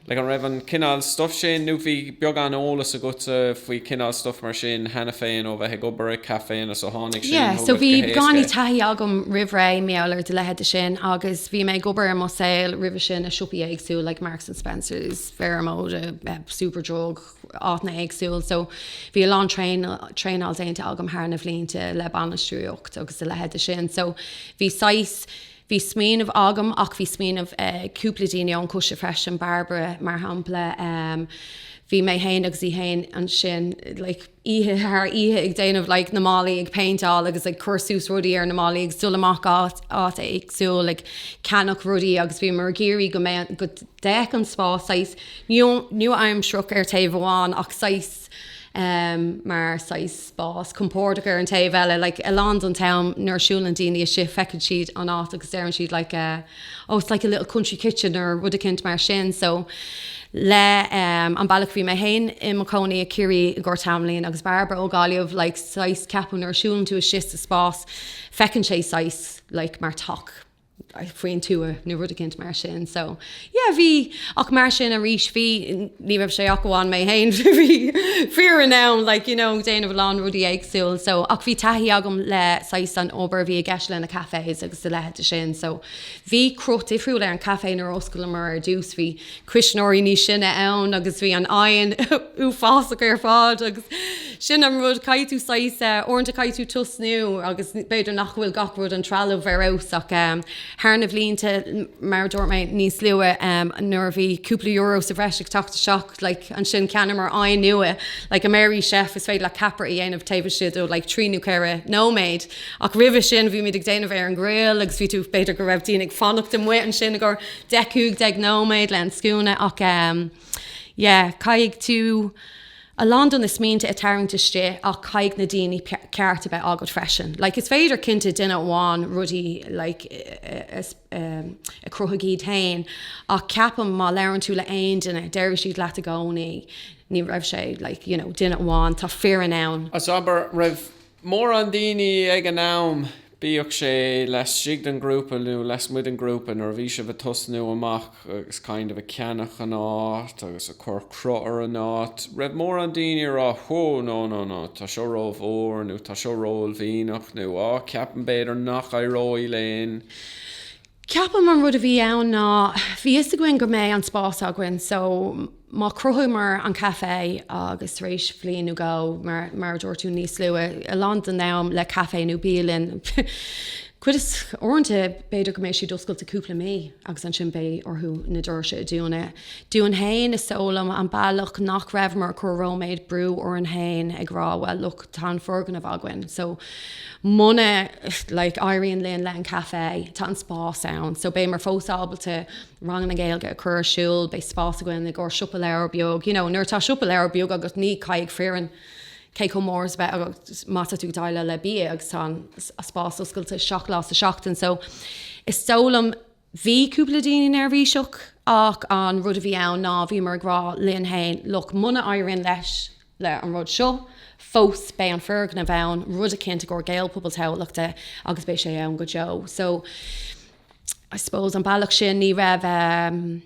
like an raibh an cineál stuff sin nó bhí beagán eolas agatsa faoi cineál stuff mar sin cheana féin ó bheith ag obair i gcaifé nó so tháinig sin chugat go héasca. Yeah, so bhí beagáinín taithí agam roimh ré maidir le leithéid de sin agus bhí mé ag obair i mo shaol roimhe sin i siopaí éagsúla like Marks and Spencer's, Vero Moda, eh, Superdrug, áiteanna éagsúil. So bhí a lán traenáil déanta agam thar na blianta le bainistíocht agus a leithéid de sin. So bhí saghas, bhí smaoineamh agam ach bhí smaoineamh ag cúpla daoine ón gcoiste freisin, Barbara mar shampla. Umm bhí mé fhéin agus í fhéin ansin like oíche thar oíche ag déanamh like na mballaí ag péinteáil agus ag cur suas rudaí ar na mballaí ag dul amach áit éagsúil ag ceannach rudaí agus bhíomar ag iarraidh go mbeadh go bhféach an spás saghas nua-aimsearach ar taobh amháin ach saghas mar saghas spás compordach ar an taobh eile, like a lán den t-am nuair a siúlann daoine istigh feiceann siad an áit agus deireann siad like oh it's like a little country kitchen nó rud eicínt mar sin. So le an bealach bhí mé féin i mo chónaí i Ciarraí i gcomhair tamaillín agus Barbara ó Gaillimh like saghas ceapadh nuair a siúlann tú istigh sa spás feiceann sé saghas like mar teach. faoin tuath nó rud eicínt mar sin. So, yeah, bhí, ach mar sin arís, bhí, ní raibh sé ach amháin mé fhéin, bhí foireann ann, like, you know, déanamh a lán rudaí éagsúil. So, ach bhí taithí agam le, saghas, an obair a bhí i gceist le na cafés agus a leithéid de sin. So, bhí cruth difriúil ar an café nuair a oscaileamar ar dtús, bhí, cuisneoirí níos sine ann agus bhí an oighean uafásach ar fad agus sin an rud, caithfidh tú saghas, uaireanta caithfidh tú tosnú agus b'fhéidir nach bhfuil gach rud, an trealamh ar fheabhas ach thar na blianta, mar a dúirt mé níos luaithe, nuair a bhí cúpla euro sa bhreis ag teacht isteach, like, ansin cheannaíomar oighean nua, like, a Merrychef, is féidir leat ceapaire a dhéanamh taobh istigh de like trí nó ceithre nóiméad ach roimhe sin bhímid ag déanamh ar an grill agus bhí tú, b'fhéidir go raibh daoine ag fanacht amuigh ansin i gcomhair. deich, cúig déag nóiméad le an scuaine ach em yeah caithfidh tú a lán de na smaointe a tarraingt istigh ach caithfidh na daoine ceart a bheith agat freisin. Like is féidir cinnte duine amháin rudaí like em a chruthaigh iad féin ach ceapaim má labhrann tú le aon duine déarfaidh siad leat i gcónaí ní raibh sé like you know duine amháin, tá foireann ann. As abair, raibh mórán daoine ag an am, bíodh sé laistigh den ghrúpa nó lasmuigh den ghrúpa, nuair a bhí sibh a' tosnú amach agus kind of a' ceannach an áit agus a' cuir cruth ar an áit, raibh mórán daoine a' rá hó no no no tá seo ró-mhór nó tá seo ró-uaillmhianach nó á ceapaim b'fhéidir nach éireoidh linn. Ceapaim an rud a bhí ann ná bhí fhios againn go mbeidh an spás againn so má chruthaíomar an caifé agus tar éis bhliain nó dhó, mar a dúirt tú, níos lú, a lán den am le caifé nó bialann, cuid is, uaireanta b'fhéidir go mbeidh siad oscailte cúpla mí agus ansin beidh orthu na doirse a dúnadh. Dúinn féin is dóigh liom an bealach nach raibheamar ag cur róméad brú orainn féin ag rá bhuel look tá an foirgneamh againn so muna like éiríonn linn le an caifé, tá an spás ann, so beidh muid fós ábalta ranganna Gaeilge a chur ar siúl, beidh spás againn i gcomhair siopa leabhar beag, you know, nuair atá siopa leabhar beag agus ní caithfidh foireann cé chomh mór is a bheith agat má tá tú déileáil le bia agus tá an spás oscailte seacht lá sa seachtain so is dóigh liom Bhí cúpla daoine neirbhíseach ach an rud a bhí ann ná bhíomar ag rá linn fhéin, look, muna éiríonn leis le an rud seo, fós beidh an foirgneamh ann, rud eicínt i gcomhair Gaelphobal Tamhlachta agus beidh sé ann go deo. So, I suppose, an bealach sin ní raibh eh.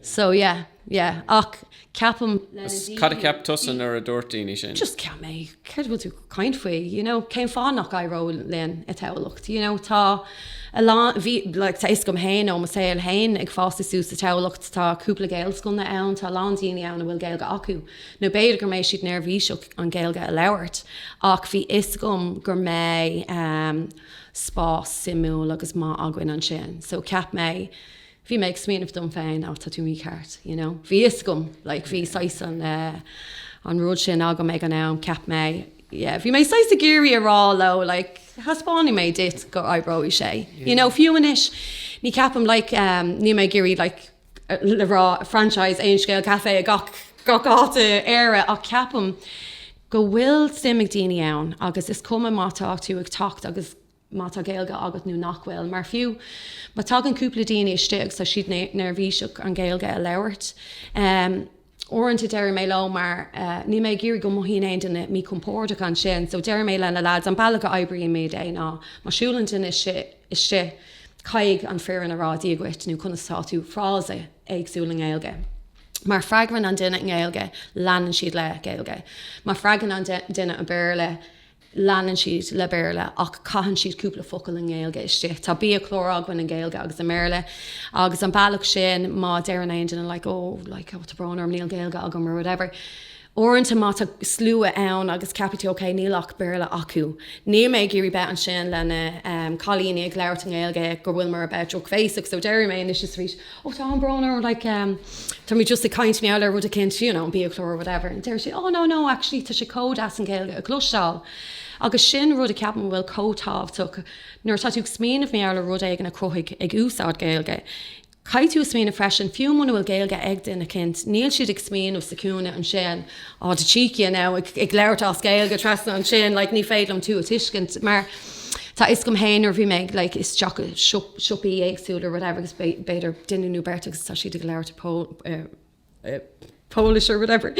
So yeah, yeah. Ach ceapaim. Cad a cheap tusa nuair a dúirt daoine sin? Just ceap mé, céard a bhfuil tú ag caint faoi, you know, cén fáth nach éireodh linn i dTamhlacht? You know, tá a lán, bhí, like, tá fhios agam féin ó mo shaol féin ag fásadh suas i dTamhlacht, tá cúpla Gaelscoileanna ann, tá a lán daoine ann a bhfuil Gaeilge acu, nó b'fhéidir go mbeidh siad neirbhíseach an Ghaeilge a labhairt, ach bhí fhios agam gur mbeidh, um, spás suimiúil agus maith againn ansin. So ceap mé, Bhí mé ag smaoineamh dom féin, oh tá tú mícheart, you know. Bhí fhios agam, like bhí saghas an eh, an rud sin agam ag an am, ceap mé, yeah, bhí mé saghas ag iarraidh a rá leo, like taispeánfaidh mé duit go oibreoidh sé, you know. Fiú anois, ní ceapaim, like eh, níl mé ag iarraidh, like, le rá franchise Aon Scéal Café i gach, gach áit i Éire ach ceapaim go bhfuil suim ag daoine ann agus is cuma má tá tú ag teacht agus, má tá Gaeilge agat nó nach bhfuil, mar fiú má tagann cúpla daoine istigh is tá siad neirbhíseach an Ghaeilge a labhairt. Uaireanta deireadh mé leo mar níl mé ag iarraidh go mothaíonn aon duine míchompordach ansin, so deireadh mé le na lads an bealach a oibríonn muid é ná má siúlann duine istigh caithfidh an foireann a rá Dia dhuit nó conas tá tú, frása éagsúil i nGaeilge. Má freagrann an duine i nGaeilge leanann siad le Gaeilge, má freagrann an duine i Béarla, Leanann siad le Béarla ach caitheann siad cúpla focal i nGaeilge istigh. Tá biachlár againn i nGaeilge agus i mBéarla agus an bealach sin má deireann aon duine like oh like oh tá brón orm níl Gaeilge agam or whatever uaireanta má tá slua ann agus ceapann tú ok níl ach Béarla acu níl mé ag iarraidh bheith ansin le na cailíní ag labhairt i nGaeilge go bhfuilimid ag bheith drochbhéasach so deir mé anois is arís Oh tá an brón orm like ehm tá mé just ag caint mar gheall ar rud eicint you know an biachlár or whatever and deir sé oh no no actually tá sé chomh deas an Ghaeilge a chloisteáil agus sin rud a ceapann go bhfuil chomh tábhachtach nuair atá tú ag smaoineamh mar gheall ar rud éigin a cruthaigh ag úsáid Gaeilge caithfidh tú a smaoineamh freisin fiú muna bhfuil Gaeilge ag duine eicint níl siad ag smaoineamh sa chúinne ansin Oh the cheek you know, ag labhairt as Gaeilge trasna ansin, like ní féidir liom tú a tuiscint, mar tá a fhios agam féin nuair a bhí mé ag like isteach i siopaí éagsúla or whatever agus b'fhéidir duine nó beirt agus tá siad ag labhairt Polish or whatever,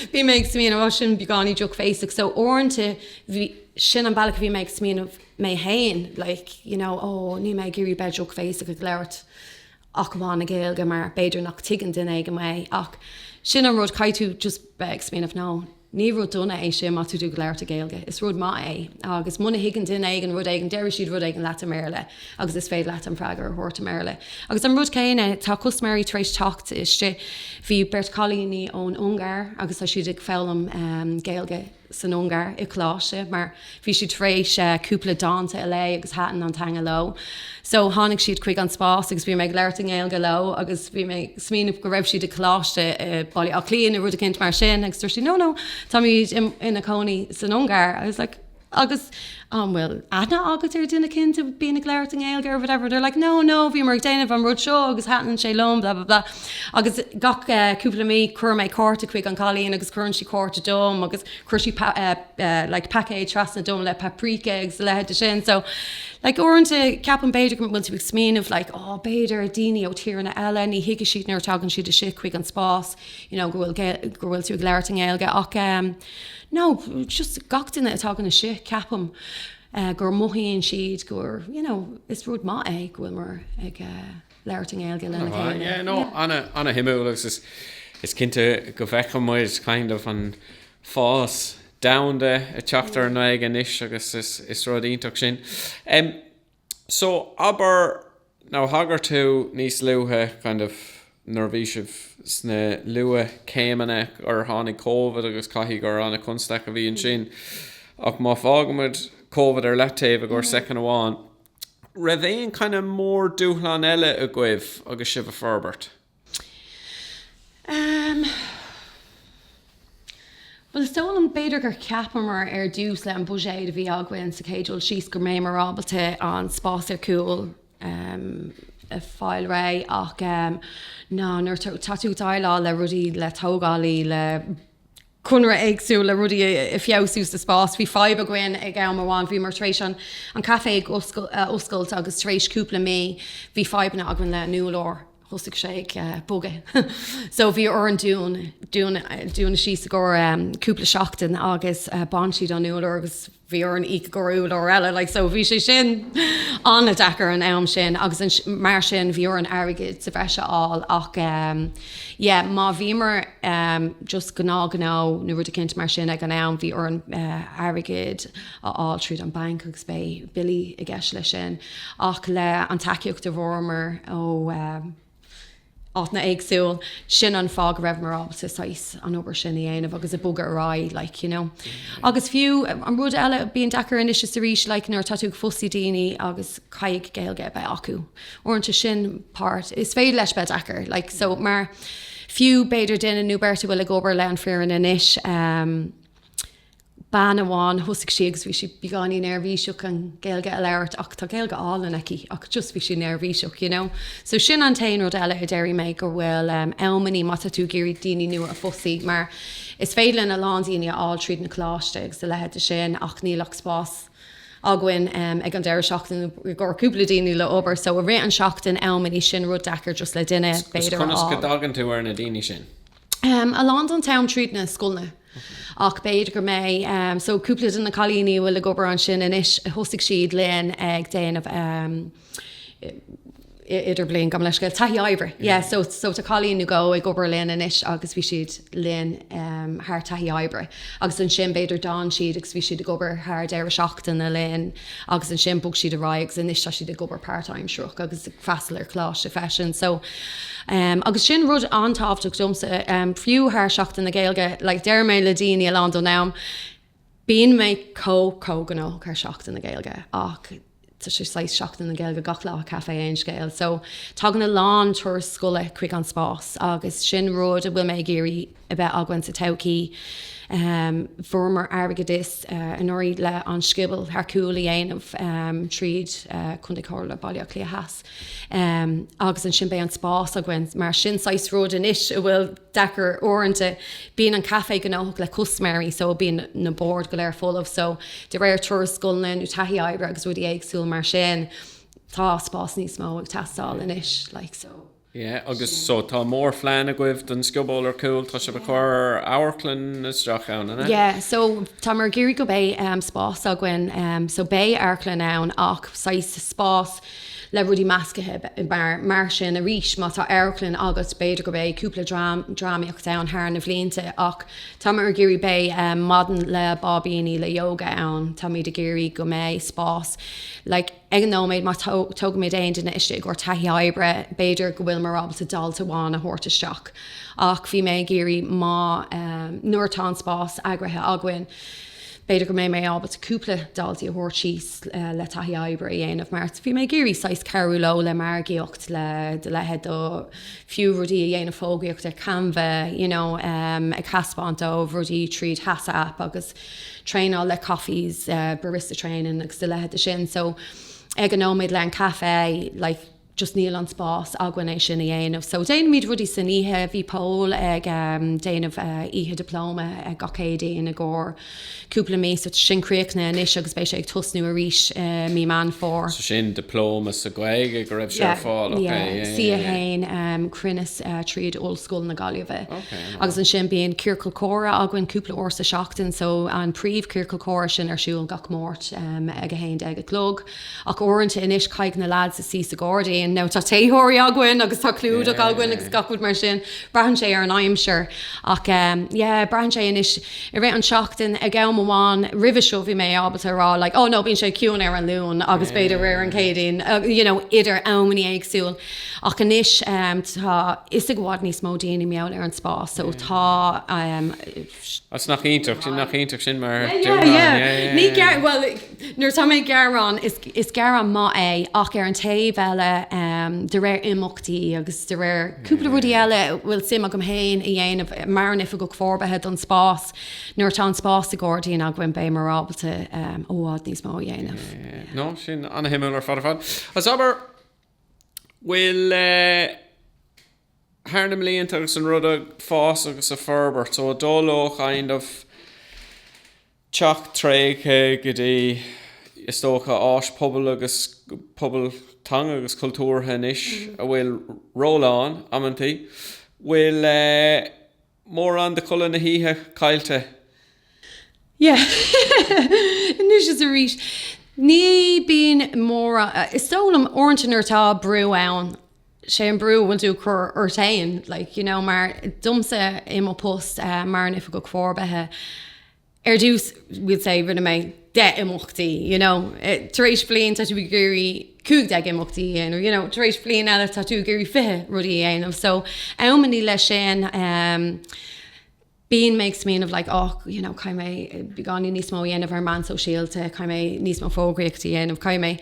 bhí mé ag smaoineamh oh sin beagáinín drochbhéasach, so uaireanta bhí, sin an bealach a bhí mé ag smaoineamh mé féin like you know oh níl mé ag iarraidh bheith drochbhéasach ag labhairt ach amháin i nGaeilge mar b'fhéidir nach dtuigeann duine éigin mé ach sin an rud, caithfidh tú just bheith ag smaoineamh no, ní rud dona é sin má tá tú ag labhairt i Gaeilge, is rud maith é agus muna thuigeann duine éigin rud éigin déarfaidh siad rud éigin leat i mBéarla agus is féidir leat an freagra a thabhairt i mBéarla. Agus an rud céanna, tá custaiméirí tar éis teacht istigh, bhí beirt chailíní ón Ungáir agus tá siad ag foghlaim Gaeilge, san Ungáir i gcoláiste mar bhí siad tar éis cúpla dánta a léamh agus thaitin an teanga leo. So tháinig siad chuig an spás agus bhí mé ag labhairt i nGaeilge leo agus bhí mé ag smaoineamh go raibh siad i gcoláiste i Baile Átha Cliath nó rud eicínt mar sin agus dúirt siad 'no, no, táimid ina cónaí san Ungáir'. I was like 'Agus an bhfuil aithne agat ar duine éicint a bíonn ag labhairt i nGaeilge or whatever, they're like no, no, bhíomar ag déanamh an rud seo agus thaitin sé liom blah, blah, blah. Agus gach eh, cúpla mí cuireann mé cárta chuig an cailín agus cuireann sí cárta dom agus chuir sí pa- eh, eh, like paicéid trasna dom le paprika agus a leithéid de sin. So like uaireanta ceapann b'fhéidir go bhfuil tú ag smaoineamh like oh b'fhéidir daoine ó tíreanna eile ní thuigfidh siad nuair a tagann siad isteach chuig an spás you know go bhfuil Gael- go bhfuil tú ag labhairt i nGaeilge ach em, no, just gach duine atá ina shuí, ceapaim, gur mothaíonn siad gur, you know, is rud maith é go bhfuilimar ag labhairt i nGaeilge lena chéile. Yeah, no, ana-shuimiúil agus is, is cinnte go bhfeiceann muid kind of an fás domhanda ag teacht ar an nGaeilge anois agus is, is rud iontach é sin. So, abair, now thagair tú níos luaithe, kind of, nuair a bhí sibh sna luath céimeanna gur tháinig Covid agus caithfidh gur ana-chonstaic a bhí ansin. Ach má fágann muid Covid ar leataobh i gcomhair soicind amháin, raibh aon kind of mór-dúshlán eile agaibh agus sibh ag forbairt? Bhuel, is dóigh liom, b'fhéidir gur cheapamar ar dtús le an budget a bhí againn sa chéad dul síos go mbeimid ábalta an spás ar cúl a fáil réidh ach nuair atá tú ag déileáil le rudaí, le tógálaí, le conraithe éagsúla, le rudaí a feabhsú sa spás. Bhí fadhb againn ag am amháin, bhíomar tar éis an an caifé a oscailt agus tar éis cúpla mí bhí fadhbanna againn le an úrlár. thosaigh sé ag bogadh so bhí orainn dún dúnadh síos i gcomhair cúpla seachtain agus bhain siad an urlár agus bhí orainn íoc i gcomhair urlár eile like so bhí sé sin an-deacair an am sin agus mar sin bhí orainn airgead sa bhreis a fháil ach yeah má bhíomar just gnáth gnó nó rud éicint mar sin ag an am bhí orainn airgead a fháil tríd an banc agus beidh billí i gceist leis sin. Ach le an tacaíocht a bhfuaireamar ó áiteanna éagsúil, sin an fáth go rabhamar ábalta saghas an obair sin a dhéanamh agus a bogadh ar aghaidh, like, you know. Agus fiú an rud eile, bíonn deacair anois is arís, like, nuair atá tú ag fostú daoine agus caithfidh Gaeilge a bheith acu. Uaireanta sin páirt is féidir leis bheith deacair, like, so, mar fiú b'fhéidir duine nó beirt a bhfuil ag obair le an foireann anois, bean amháin, thosaigh sí agus bhí sí beagáinín neirbhíseach an Ghaeilge a labhairt ach tá Gaeilge álainn aici ach just bhí sí neirbhíseach you know. So sin an t-aon rud eile a déarfaidh mé go bhfuil em amannaí má tá tú ag iarraidh daoine nua a fhostú mar is féidir lena lán daoine a fháil tríd na coláiste agus a leithéid de sin ach níl ach spás againn em ag an deireadh seachtaine i gcomhair cúpla daoine le obair so i rith an seachtain amannaí sin rud deacair just le duine b'fhéidir a fháil. Is conas go dtagann tú ar na daoine sin? A lán den t-am tríd na scoileanna. Ach b'fhéidir go mbeidh, so, cúpla de na cailíní a bhfuil ag obair ansin anois, thosaigh siad linn ag déanamh idirbhliain, gabh mo leithscéal, taithí oibre. Yeah, so, so tá cailín nó dhó ag obair linn anois agus bhí siad linn thar taithí oibre. Agus ansin b'fhéidir d'fhan siad agus bhí siad ag obair thar deireadh seachtaine linn. Agus ansin bhog siad ar aghaidh agus anois tá siad ag obair páirtaimseartha agus ag freastal ar choláiste freisin. So umm agus sin rud an-tábhachtach domsa umm fiú thar Seachtain na Gaeilge. Like deireann mé le daoine a lán den am bíonn mé chomh chomh gnóthach ar Seachtain na Gaeilge ach tá sé saghas Seachtain na Gaeilge gach lá i gCaifé Aon Scéal. So tagann a lán turas scoile chuig an spás agus sin rud a bhfuil mé ag iarraidh a bheith againn sa todhchaí. Fuaireamar airgeadas anuraidh le an scioból ar cúl a dhéanamh tríd Contae Chomhairle Baile Átha Cliath Theas agus ansin beidh an spás againn. Mar sin saghas rud anois a bhfuil deacair uaireanta. Bíonn an caifé gnóthach le custaiméirí so bíonn na boird go léir folamh so de réir turas scoileanna nó taithí oibre agus rudaí éagsúla mar sin tá spás níos mó ag teastáil anois like so. Yeah agus so tá mór phlean agaibh don scioból ar cúl, tá sibh a chur amharclann isteach ann, an ea? Yeah so táimid ag iarraidh go mbeidh spás againn so beidh amharclann ann ach saghas spás le rudaí meascaithe mar mar sin arís má tá amharclann agat b'fhéidir go mbeidh cúpla dream drámaíocht ann thar na blianta ach táimid ag iarraidh beidh maidin le báibíní le yoga ann táimid ag iarraidh go mbeidh spás like ag an nóiméad, má thógaimid aon duine istigh i gcomhair taithí oibre, b'fhéidir go bhfuil muid ábalta dalta amháin a thabhairt isteach. Ach beidh mé ag iarraidh má, nuair atá an spás eagraithe againn, b'fhéidir go mbeidh mé ábalta cúpla daltaí a thabhairt síos le taithí oibre a dhéanamh mar bhí mé ag iarraidh saghas cabhrú leo le margaíocht, le do leithéid de, fiú rudaí a dhéanamh fógraíocht ar Canva, you know, ag thaispeáint dóibh rudaí tríd WhatsApp agus. traenáil le coffees, barista training agus do leithéid de sin. So ag an nóiméad le an caife, like just níl an spás againn é sin a dhéanamh. So déanaimid rudaí san oíche, bhí Pól ag déanamh oíche dioplóma gach Céadaoin i gcomhair cúpla mí. So sin críochnaithe anois agus beidh sé ag tosnú arís i mí Meán Fómhair. So sin dioplóma sa Ghaeilge go raibh sé ar fáil, ok. Yeah, yeah, yeah. C1 cruinneas tríd Ollscoil na Gaillimhe. Ok. Agus ansin bíonn Ciorcal Comhrá againn cúpla uair sa seachtain so an príomh Ciorcal Comhrá sin ar siúl gach Máirt ag 11 a chlog ach uaireanta anois caithfidh na lads suí sa gairdín now tá téitheoirí againn agus tá clúdach againn agus gach rud mar sin braitheann sé ar an aimsir ach yeah braitheann sé anois i rith an seachtain ag am amháin roimhe seo bhí mé ábalta rá like oh no bíonn sé ciúin ar an Luan agus b'fhéidir ar an Céadaoin you know idir amanna éagsúil. Ach anois tá fhios ag i bhfad níos mó daoine i mBéal Feirste ar an spás so tá an. Agus nach iontach sin, nach iontach sin mar dúshlán, yeah. Ní gearr, bhuel, nuair atá mé ag gearán, is, is gearán maith é ach ar an taobh eile, de réir imeachtaí agus de réir cúpla rudaí eile a bhfuil suim agam féin a dhéanamh, mar an Oifigeach Forbartha don spás, nuair atá an spás sa gairdín againn beidh muid ábalta i bhfad níos mó a dhéanamh. Yeah, no, sin an-shuimiúil ar fad ar fad. Agus abair. bhfuil thar na mblianta agus an rud ag fás agus ag forbairt so dul ó kind of teach tréigthe go dtí is dócha áis pobail agus pobal teanga agus cultúrtha anois a bhfuil ról ann amantaí bhfuil mórán de chodladh na hoíche caillte. Yeah. Anois is arís. Ní bíonn mórán, is dóigh liom, uaireanta nuair atá brú ann, sé an brú a bhfuil tú ag cur ort fhéin, like, you know, mar domsa i mo post, eh, mar an Oifigeach Forbartha, Ar dtús, we'll say, rinne mé deich imeachtaí, you know. Tar éis bliain, tá tú ag iarraidh cúig déag imeachtaí a dhéanamh, you know. Tar éis bliain eile, tá tú ag iarraidh fiche rudaí a dhéanamh. So, am i ndiaidh leis sin, ehm, bíonn mé ag smaoineamh like, oh, you know, caithfidh mé beagáinín níos mó a dhéanamh ar an meán sóisialta, caithfidh mé níos mó fógraíochtaí a dhéanamh, caithfidh mé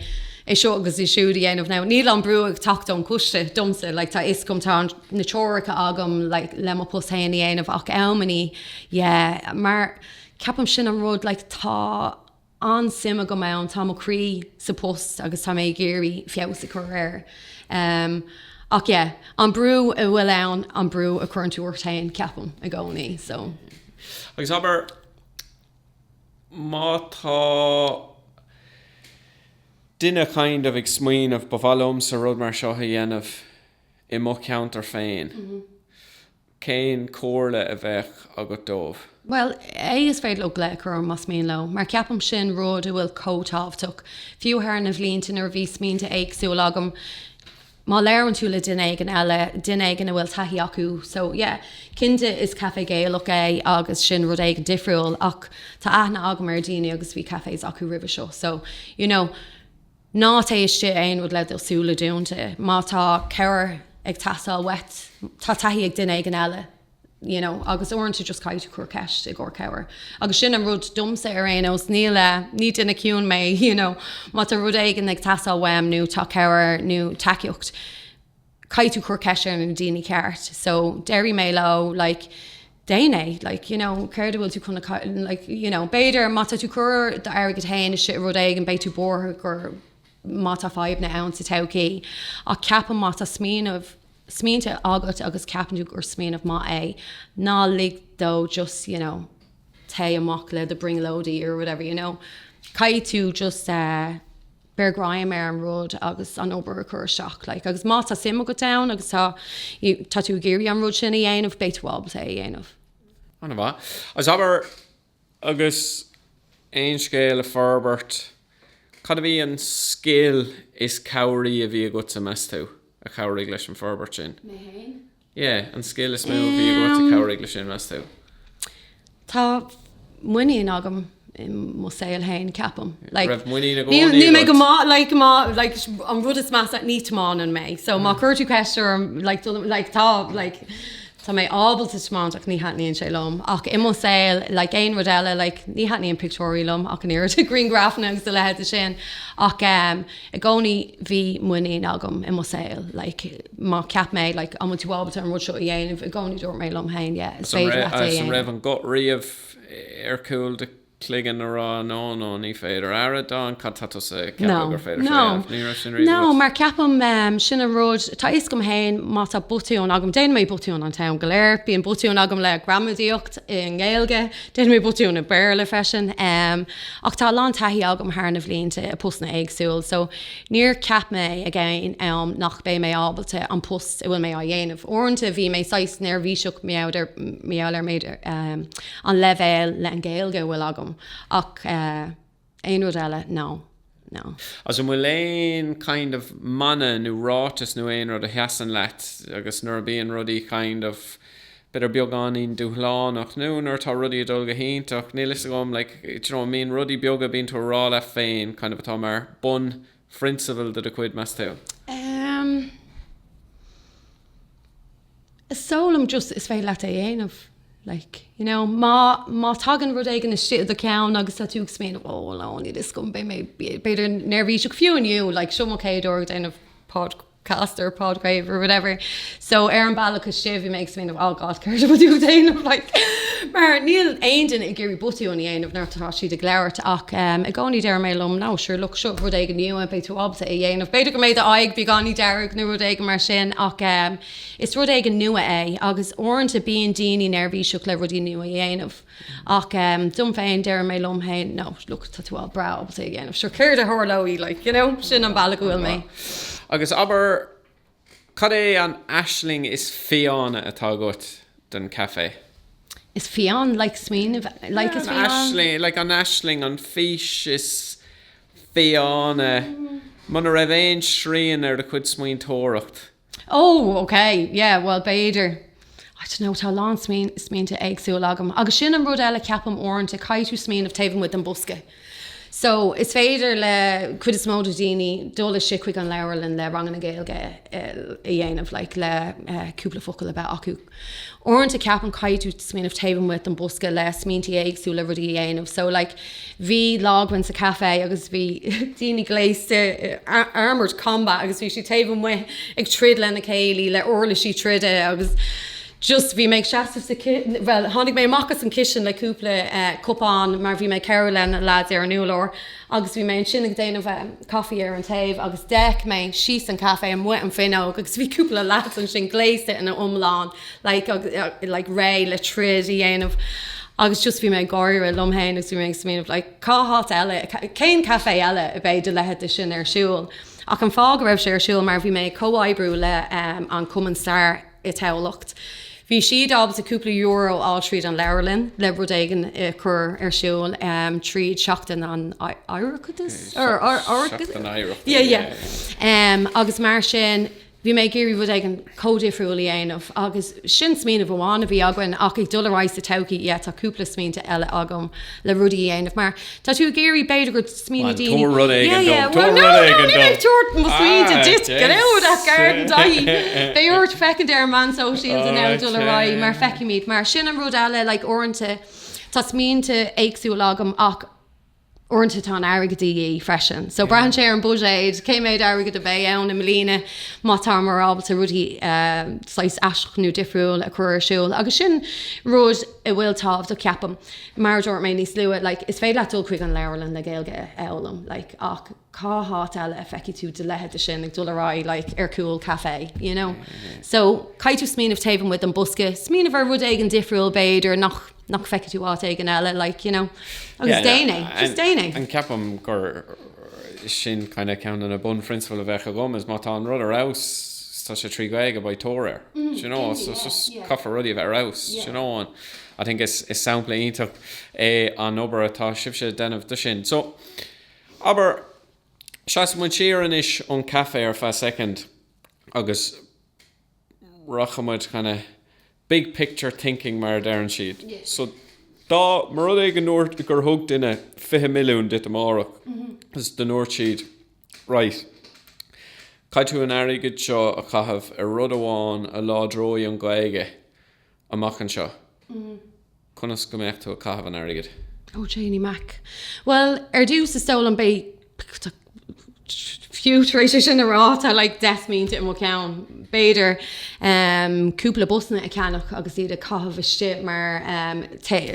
é seo agus é siúd a dhéanamh. Now, níl an brú ag teacht ón gcoiste domsa, like, tá a fhios agam, tá na treoracha agam, like, le mo post féin a dhéanamh. Ach am i ndiaidh. Yeah, mar ceapaim sin an rud, like, tá an-suim agam ann, tá mo chroí sa post agus tá mé ag iarraidh feabhas a chur air. Um, ach yeah, an brú a bhfuil ann an brú a churann tú ort féin ceapaim i gcónaí, so. Agus abair má tá duine kind of ag smaoineamh ba mhaith liomsa rud mar seo a dhéanamh i mo cheantar féin. Mm -hmm. Cén comhairle a bheadh agat dóibh? Bhuel, is féidir leo glaoch a chur orm más mian leo, mar ceapaim sin rud a bhfuil chomh tábhachtach. Fiú thar na bhlianta nuair a bhí smaointe éagsúla agam, má labhrann tú le duine éigin eile, duine éigin a bhfuil taithí acu, so yeah, cinnte is caife Gaelach é agus sin rud éigin difriúil ach tá aithne agam ar daoine agus bhí cafes acu roimhe seo, so, you know. Ná téigh isteach in aon rud le do súile dúnta. Má tá cabhair ag teastáil uait, tá taithí ag duine éigin eile you know agus uaireanta just caithfidh tú ceist a chur i gcomhair cabhair. Agus sin an rud domsa ar aon nós, níl eh, ní duine ciúin mé you know má tá rud éigin ag teastáil uaim nó tá cabhair nó tacaíocht, caithfidh tú cur ceist ar na daoine ceart so déarfaidh mé leo like déan é like you know céard a bhfuil tú chun na like you know b'fhéidir má tá tú cur d'airgead féin i rud éigin beidh tú buartha gur má tá fadhbanna sa todhchaí ach ceapaim má tá smaoineamh smaointe agat agus ceapann tú gur smaoineamh maith é ná lig dó just you know téigh amach le do bhrionglóidí or whatever you know caithfidh tú just eh beir greim ar an rud agus an obair a chur isteach, like, agus má tá suim agat ann agus tá, you know, tá tú ag iarraidh an rud sin a dhéanamh, beidh tú ábalta é a dhéanamh. Ana mhaith. Agus abair, agus Aon Scéal a forbairt, cad a bhí an scil is cabhraí a bhí agatsa, meas tú, a chabhraigh leis an forbairt sin? Mé fhéin? Yeah, an scil is mó a bhí agat a chabhraigh leis sin, meas tú? Tá muinín agam i mo saol féin, ceapaim. Like, Raibh muinín i gcónaí agat? Níl mé go maith, like, má, like, an rud is measa, ní tiomáineann mé. So, má chuireann tú ceist orm, like, dul, like, tá, like, tá mé ábalta tiomáint ach ní thaitníonn sé liom. Ach i mo saol, like, aon rud eile, like, ní thaitníonn pictiúirí liom ach an oiread, grianghrafanna agus a leithéid de sin. Ach, eh, I gcónaí bhí muinín agam i mo shaol. Like, má cheap mé, like, an bhfuil tú ábalta an rud seo a dhéanamh, i gcónaí dúirt mé liom féin, yeah, is féidir leat é a dhéanamh. An raibh an guth riamh ar chúl do chloigeann ag rá, no, no, ní féidir, ara, Dawn, cad tá tusa ag ceapadh gur féidir leat é a dhéanamh? Ní raibh sin riamh agat? No, mar ceapaim, em, sin an rud, tá a fhios agam féin má tá botún agam, déanaim mé botúin an t-am go léir, bíonn botúin agam le gramadaíocht i nGaeilge, Déan mé botúin i Béarla freisin. Ach tá a lán taithí agam thar na bhlianta i postanna éagsúil so níor cheap mé ag aon am nach mbeidh mé ábalta an post a bhfuil mé á dhéanamh. Uaireanta bhí mé saghas neirbhíseach maidir le méid an leibhéal le an Ghaeilge a bhfuil agam ach eh, Aon rud eile? No. No. Agus an bhfuil aon, kind of, mana nó ráiteas nó aon rud a sheasann leat agus nuair a bíonn rudaí, kind of, b'fhéidir beagáinín dúshlánach nó nuair atá rudaí ag dul go hiontach, níl 'fhios agam, like, d'you know, mbíonn rudaí beaga a bíonn tú a' rá leat féin, kind of, atá mar bunphrionsabal de do chuid, meas tú? Ehm. Domsa just is féidir leat é a dhéanamh. Like, you know, má, má tagann rud éigin istigh i do cheann agus tá tú ag smaoineamh, oh well no, níl 'fhios agam, beidh mé b'fhéidir neirbhíseach fiú inniu, like, seo mo chéad uair ag déanamh podcast or podgrave or whatever. So ar an bealach istigh bhí mé ag smaoineamh, oh God, céard a bhfuil tú ag déanamh, like. Mar níl aon duine ag iarraidh botúin a dhéanamh nuair atá siad ag labhairt ach i gcónaí deir mé liom, no, sure, look, seo rud éigin nua, beidh tú ag. ábalta é a dhéanamh. B'fhéidir go mbeidh a aghaidh beagáinín dearg nó rud éigin mar sin ach is rud éigin nua é agus uaireanta bíonn daoine neirbhíseach le rudaí nua a dhéanamh. Ach dom féin, deir mé liom féin 'no, look, tá tú breá ábalta é a dhéanamh, sure, céard a tharlóidh, like, you know? Sin an bealach a bhfuil mé. Agus abair, Cad é an aisling is fiáine atá agat don café? Is fiáin, like smaoinigh, like is fiáin. Aisling, like an aisling, an fís is fiáine, muna raibh aon srian ar do chuid smaointeoireacht. Oh, okay, yeah, bhuel, b'fhéidir. I don't know, tá a lán smaointe éagsúil agam. Agus sin an rud eile ceapaim uaireanta, caithfidh tú smaoineamh taobh amuigh den bosca. So, is féidir le cuid is mó de dhaoine dul istigh chuig an leabharlann le ranganna Gaeilge a dhéanamh, like, le cúpla focal a bheith acu. Uaireanta ceapaim caithfidh tú smaoineamh taobh amuigh den bosca le smaointe éagsúla, rudaí a dhéanamh. So, like, Bhí lá againn sa café agus bhí daoine gléasta i armoured combat agus bhí siad taobh amuigh ag troid lena chéile le uirlisí troide agus just bhí mé ag seasamh sa, bhuel, tháinig mé amach as an kitchen le cúpla cupán mar bhí mé ag cabhrú lena lads ar an urlár agus bhí mé ansin ag déanamh caife ar an taobh agus d'fhéach mé síos an caife amuigh an fhuinneog agus bhí cúpla leads ansin gléasta ina iomlán like réidh le troid a dhéanamh agus just bhí mé ag gáire liom féin agus bhí mé ag smaoineamh like cá háit eile, cén caife eile a bheidh do leithéid de sin ar siúl ach an fáth go raibh sé ar siúl mar bhí mé ag comhoibriú le an Cumann Stair i dTamhlacht. Bhí siad ábalta cúpla euro a fháil tríd an leabharlann le rud éigin a chur ar siúl tríd Seachtain an Oireachtais? Seachtain Oidhreachta, yeah, yeah. Agus mar sin, bhí mé ag iarraidh rud éigin comhdhifriúil a dhéanamh agus sin smaoineamh amháin a bhí againn ach ag dul ar aghaidh sa todhchaí, yeah, tá cúpla smaointe eile agam le rudaí a dhéanamh mar tá tú ag iarraidh b'fhéidir go smaoiní daoine. Tabhair rud éigin dom, tabhair rud éigin dom! Yeah, yeah, well, no, no, níl ag tabhairt mo smaointe ar fad ach garden daithí. Beidh ort féachaint ar na socials ag dul ar aghaidh mar feicimid. Mar sin an rud eile, like, uaireanta tá smaointe éagsúla agam ach uaireanta tá an airgead de dhíth freisin. So braitheann sé ar an buiséad, cé méid airgead a bheidh ann i mbliana má táimar ábalta rudaí saghas aisteach nó difriúil a chur ar siúl. Agus sin rud. a bhfuil tábhachtach, ceapaim, mar a dúirt mé níos luaithe, like, is féidir leat dul chuig an leabharlann le Gaeilge a fhoghlaim, like, ach cá háit eile a feicfidh tú do leithéid de sin ag dul ar aghaidh, like, ar chúl caife, you know? So, caithfidh tú smaoineamh taobh amuigh den bosca, smaoineamh ar rud éigin difriúil, b'fhéidir, nach, nach bhfeicfidh tú áit éigin eile, like, you know? Agus just déan é! Ceapaim gur sin kind of ceann de na bunphrionsabail a bheadh agam, is má tá an rud ar fheabhas, tá sé trí Ghaeilge, beidh tóir air. You know, so caithfear rudaí a bheith ar fheabhas, you know, so I think is sampla iontach é an obair atá sibhse a dhéanamh de sin. So abair, seasfaidh muid siar anois ón caife ar feadh soicind agus rachaidh muid Big picture thinking mar a deireann siad. So dá mba rud é go ndúirt, gur thug duine fiche milliún duit amárach is dá ndúirt siad right, caithfidh tú an airgead seo a chaitheamh ar rud amháin a láidreoidh an Ghaeilge amach anseo. Conas go mbeadh tú ag caitheamh an airgid? Ó Janey Mac, Bhuel, ar dtús, is dóigh liom, beidh, fiú tar éis é sin a rá, tá like deich smaointe i mo cheann. B'fhéidir, em, cúpla busanna a cheannach agus iad a chaitheamh istigh mar, em,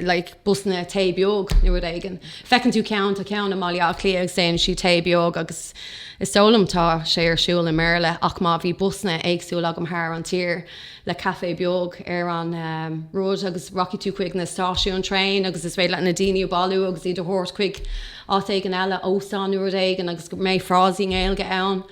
like busanna tae beag nó rud éigin. Feiceann tú ceann, tá ceann i mBaile Átha Cliath agus déanann siad tae beag agus is dóigh liom tá sé ar siúl i mBéarla ach má bhí busanna éagsúla agam thar an tír, le caife beag ar an road agus rachaidh tú chuig na stáisiúin traein agus is féidir leat na daoine a bhailiú agus iad a thabhairt chuig áit éigin eile, óstán nó rud éigin agus go mbeidh frásaí i nGaeilge ann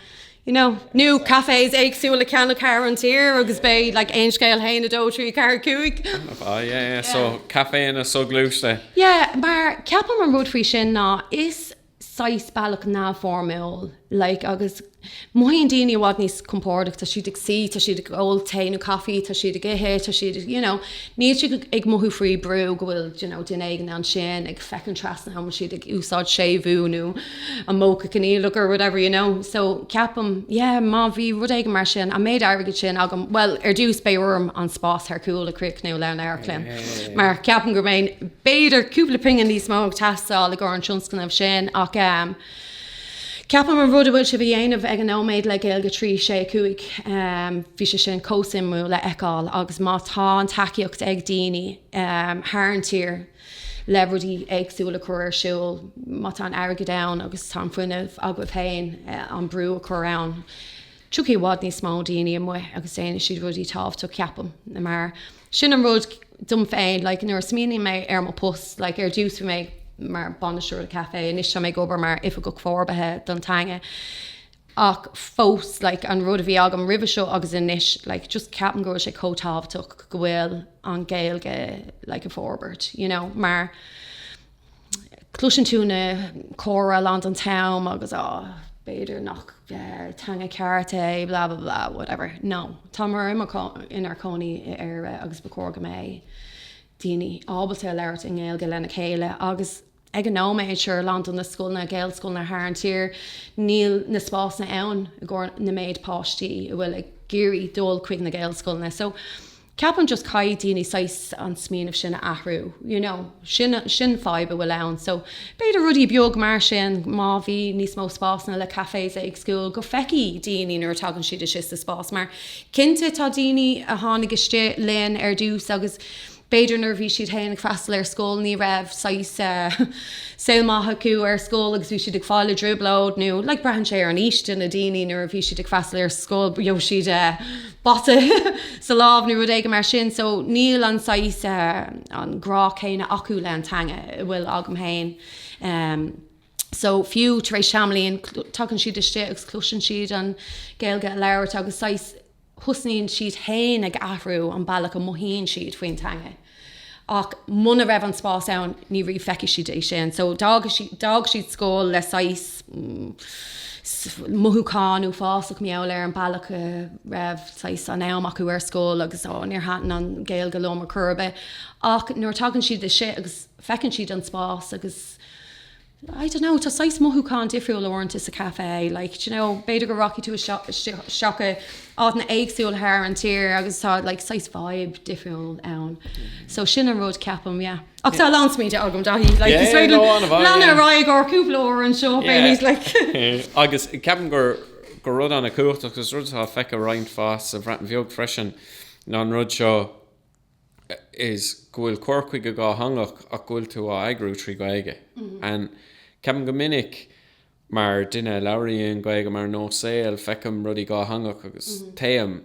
you know, nó cafés éagsúil le ceannach thar an tír agus beidh like aon scéal a haon, dó, trí, ceathair, cúig. Ah yeah yeah so caféanna soghluaiste. Yeah mar ceapaim an rud faoi sin ná is saghas bealach neamhfhoirmiúil, like agus mothaíonn daoine i bhfad níos compordaí, tá siad ag suí, tá siad ag ól tae nó coffee, tá siad ag ithe, tá siad, you know, níl siad ag mothú faoi brú go bhfuil, you know, duine éigin ansin ag féachaint trasna an bhfuil siad ag úsáid séimhiú nó an modh coinníollach or whatever, you know. So ceapaim, yeah, má bhí rud éigin mar sin, an méid airgid sin agam, bhuel, ar dtús beidh orm an spás ar chúl a chríochnú le an amharclann mar ceapaim go mbeidh, B'fhéidir cúpla pingin níos mó ag teastáil i gcóir an tionscnaimh sin ach ceapaim an rud a bhfuil sibh a dhéanamh ag an nóiméad le Gaeilge 365, bhí sé sin chomh suimiúil a fheiceáil agus má tá an tacaíocht ag daoine thar an tír le rudaí éagsúla a chur ar siúl, má tá an airgead ann agus tá an fuinneamh agaibh féin an brú a chur ann, tiocfaidh i bhfad níos mó daoine amuigh agus déanfaidh siad rudaí tábhachtach, ceapaim. Sin an rud dom féin, like nuair a smaoiníonn mé ar mo post, like ar dtús bhí mé mar bainisteoir caife, anois tá mé ag obair mar oifigeach forbartha don teanga. Ach fós like an rud a bhí agam roimhe seo agus anois, like just ceapaim go bhfuil sé chomh tábhachtach go bhfuil an Ghaeilge like ag forbairt, you know, mar, Cloiseann tú na comhrá a lán den am agus á, b'fhéidir nach teanga ceart é, blah blah blah, whatever. No. Táimar inár cónaí i Éire agus ba chóir go mbeidh daoine ábalta labhairt i nGaeilge lena chéile agus ag an nóiméad, sure, a lán de na scoileanna, Gaelscoileanna thar an tír, níl na spásanna ann i gcomhair na méid páistí a bhfuil ag iarraidh dul chuig na Gaelscoileanna. So. Ceapaim just caithfidh daoine saghas an smaoineamh sin a athrú, you know. Sin, sin fadhb a bhfuil ann. So, b'fhéidir rudaí beag mar sin, má bhí níos mó spásanna le cafes éagsúil, go feicfidh daoine nuair a tagann siad isteach sa spás. Mar, cinnte, tá daoine a tháinig istigh linn ar dtús agus b'fhéidir nuair a bhí siad féin ag freastal ar scoil ní raibh saghas eh saol maith acu ar scoil agus bhí siad ag fáil i dtrioblóid nó like braitheann sé ar an aois de na daoine nuair a bhí siad ag freastal ar scoil, bíodh siad eh, bata sa lámh nó rud éigin mar sin, so níl an saghas, an grá céanna acu le an teanga a bhfuil agam féin. So fiú tar éis tamaillín, tagann siad istigh agus cloiseann siad an Gaeilge a labhairt agus saghas thosnaíonn siad féin ag athrú an bealach a mothaíonn siad faoin teanga. Ach muna raibh an spás ann ní riabh feicfidh siad é sin. So d'fhág siad scoil le saghas mothúcháin uafásach mar gheall ar an bealach a raibh saghas an am acu ar scoil agus oh níor thaitn an Ghaeilge liom ar chor ar bith. Ach nuair a tagann siad isteach agus feiceann siad an spás agus I don't know, tá saghas mothúchán difriúil uaireanta sa café, like, do you know, b'fhéidir go rachaidh tú isteach i áiteanna éagsúla thar an tír agus tá, like, saghas vibe difriúil ann. So sin an rud, ceapaim, yeah. Ach tá a lán smaointe agam, Dáithí, like, is féidir liom leanadh ar aghaidh ar cúpla uair anseo, easily, like. Agus ceapaim gur, gur rud an-chumhachtach, agus rud atá feicthe roinnt fás sa Bhreatain Bheag freisin, ná an rud seo, is go bhfuil cur chuige dhátheangach ach go bhfuil tú á eagrú trí Ghaeilge. And ceapaim go minic mar duine a labhraíonn Gaeilge mar nós saoil, feicim rudaí dhátheangach agus téim,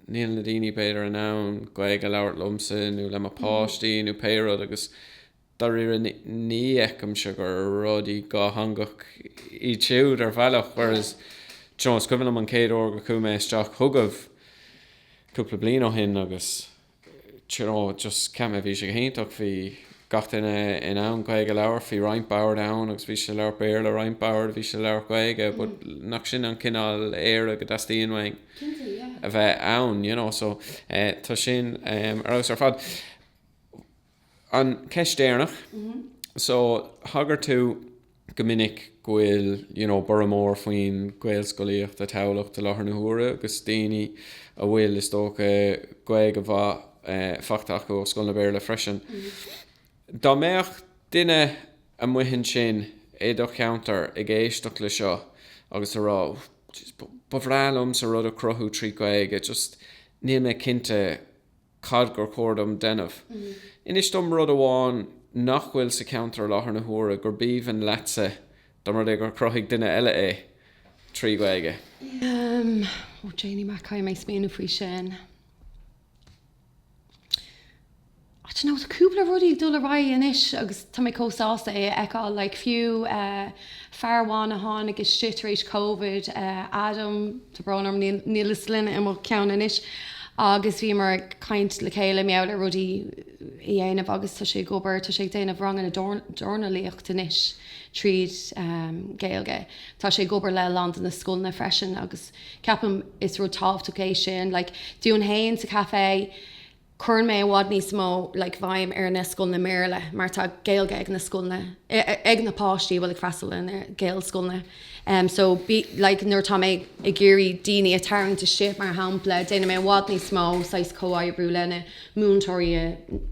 níl na daoine b'fhéidir in ann Gaeilge a labhairt liomsa nó le mo páistí nó pé rud agus Dáiríre ní fheicimse gur rudaí dhátheangach iad siúd ar bhealach whereas do you know is cuimhin liom an chéad uair go chuaigh mé isteach chugaibh cúpla bliain ó shin agus do you know just cheap mé bhí sé go hiontach, bhí gach duine in ann Gaeilge a labhairt, bhí roinnt bord ann agus bhí siad ag labhairt Béarla, roinnt bord a bhí siad ag labhairt Gaeilge but nach sin an cineál Éire go dteastaíonn uainn a bheith ann you know so tá sin ar fheabhas ar fad. An cheist dheireanach, so thagair tú go minic go bhfuil, you know, borradh mór faoin Ghaelscolaíocht i dTamhlacht i láthair na huaire agus daoine a bhfuil, is dócha, Gaeilge mhaith faighte acu ó scoileanna Béarla freisin. Dá mbeadh duine amuigh ansin i do cheantar ag éisteacht le seo agus a rá, oh, jeez, ba bhreá liomsa rud a chruthú trí Ghaeilge, just níl mé cinnte, cad gur chóir dom déanamh? Inis dom rud amháin nach bhfuil sa cheantar i láthair na huaire gurb aoibhinn leatsa dá mba rud é gur chruthaigh duine eile é trí Ghaeilge. Ó, Janie Mac, caithfidh mé smaoineamh faoi sin. Tá cúpla rud ag dul ar aghaidh anois agus tá mé chomh sásta é a fheiceáil, like fiú, Fear amháin a tháinig istigh tar éis Covid, Adam, tá brón orm, níl a sloinne i mo cheann anois, agus bhíomar ag caint le chéile, mar gheall ar rudaí a dhéanamh agus tá sé ag obair, tá sé ag déanamh ranganna dornálaíocht anois tríd Gaeilge. Tá sé ag obair le a lán de na scoileanna freisin agus ceapaim is rud tábhachtach é sin. Like, dúinn fhéin sa café, cuireann mé i bhfad níos mó like béim ar na scoileanna mBéarla mar tá Gaeilge ag na scoileanna ag na páistí a bhfuil ag freastal ar na Gaelscoileanna em so like nuair atá mé ag iarraidh daoine a tarraingt istigh mar shampla déanaim mé i bhfad níos mó saghas comhoibriú le na múinteoirí i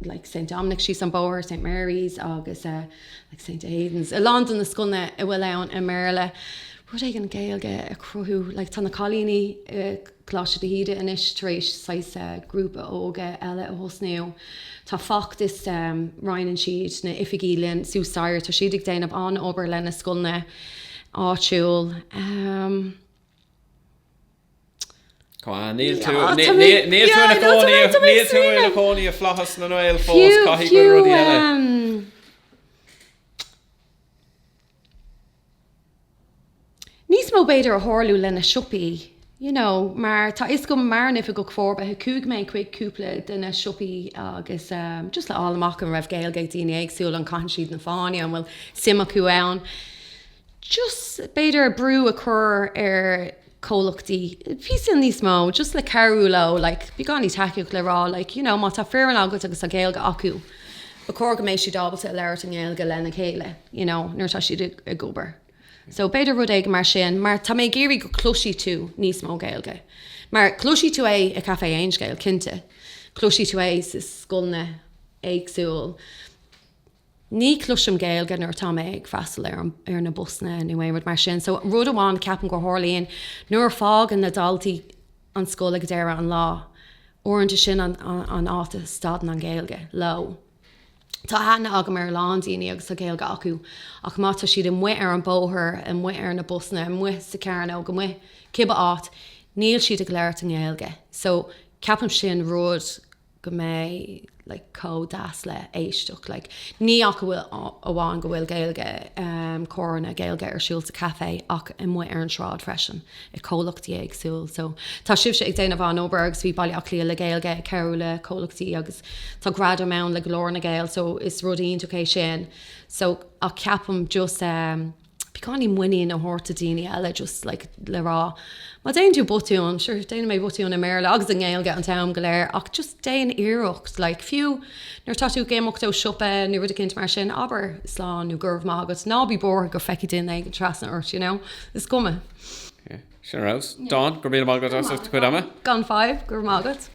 like Saint Dominic síos an bóthar Saint Mary's agus eh like Saint Aidan's a lán de na scoileanna a bhfuil ann i mBéarla rud éigin Gaeilge a cruthú like tá na cailíní eh Coláiste de hÍde anois tar éis saghas grúpa óige eile a thosnú. Tá feachtas, roinneann siad na hoifigí linn suas staighre, tá siad ag déanamh an-obair le na scoileanna áitiúil. Níl tú ina chónaí i Flaitheas na nGael fós, caithfidh go bhfuil rudaí eile. Níos mó b'fhéidir a tharlú le na siopaí, you know, mar tá a fhios agam mar an Oifigeach Forbartha chuaigh mé chuig cúpla de na siopaí agus ehm, just le fháil amach an raibh Gaeilge ag daoine éagsúla, an caitheann siad an fáinne, an bhfuil suim acu ann. Just b'fhéidir brú a chur ar comhlachtaí píosa níos mó just le cabhrú leo like beagáinín tacaíochta le rá like you know má tá foireann agat agus tá Gaeilge acu ba chóir go mbeidh siad ábalta labhairt i nGaeilge lena chéile you know nuair atá siad ag obair so b'fhéidir rud éigin mar sin mar tá mé ag iarraidh go cloisfidh tú níos mó Gaeilge mar cloisfidh tú é i Café Aon Scéal cinnte cloisfidh tú é sa scoileanna éagsúil ní chloisim Gaeilge nuair atá mé ag freastal ar an, ar na busanna nó aon rud mar sin. So rud amháin a ceapaim go tharlaíonn nuair a fágann na daltaí an scoil ag deireadh an lá, uaireanta sin an, an áit a stadann an Ghaeilge leo. Tá aithne agam ar a lán daoine agus tá Gaeilge acu ach má tá siad amuigh ar an bóthar, amuigh ar na busanna, amuigh sa chearnóg, amuigh cibé áit, níl siad ag labhairt i nGaeilge. So ceapaim sin rud go mbeidh like chomh deas le éisteacht like ní hamháin go bhfuil Gaeilge comhránna Gaeilge ar siúl sa caife ach amuigh ar an sráid freisin i gcomhlachtaí éagsúil so tá sibhse ag déanamh an-obair agus bhí Baile Átha Cliath le Gaeilge ag cabhrú le comhlachtaí agus tá gradaim ann le Glór na nGael so is rud iontach é sin so ach ceapaim just beagáinín muinín a thabhairt do daoine eile just like le rá má déanann tú botún, sure déanaim botún i mBéarla agus i nGaeilge an t-am go léir ach just déan iarracht like fiú nuair atá tú ag imeacht ó siopa nó rud éicint mar sin abair slán nó go raibh maith agat ná bí buartha go féachfaidh duine éigin trasna ort you know is cuma. yeah sin rabhas. Dawn go raibh míle maith agat as do chuid ama. Gan fadhb, go raibh maith agat.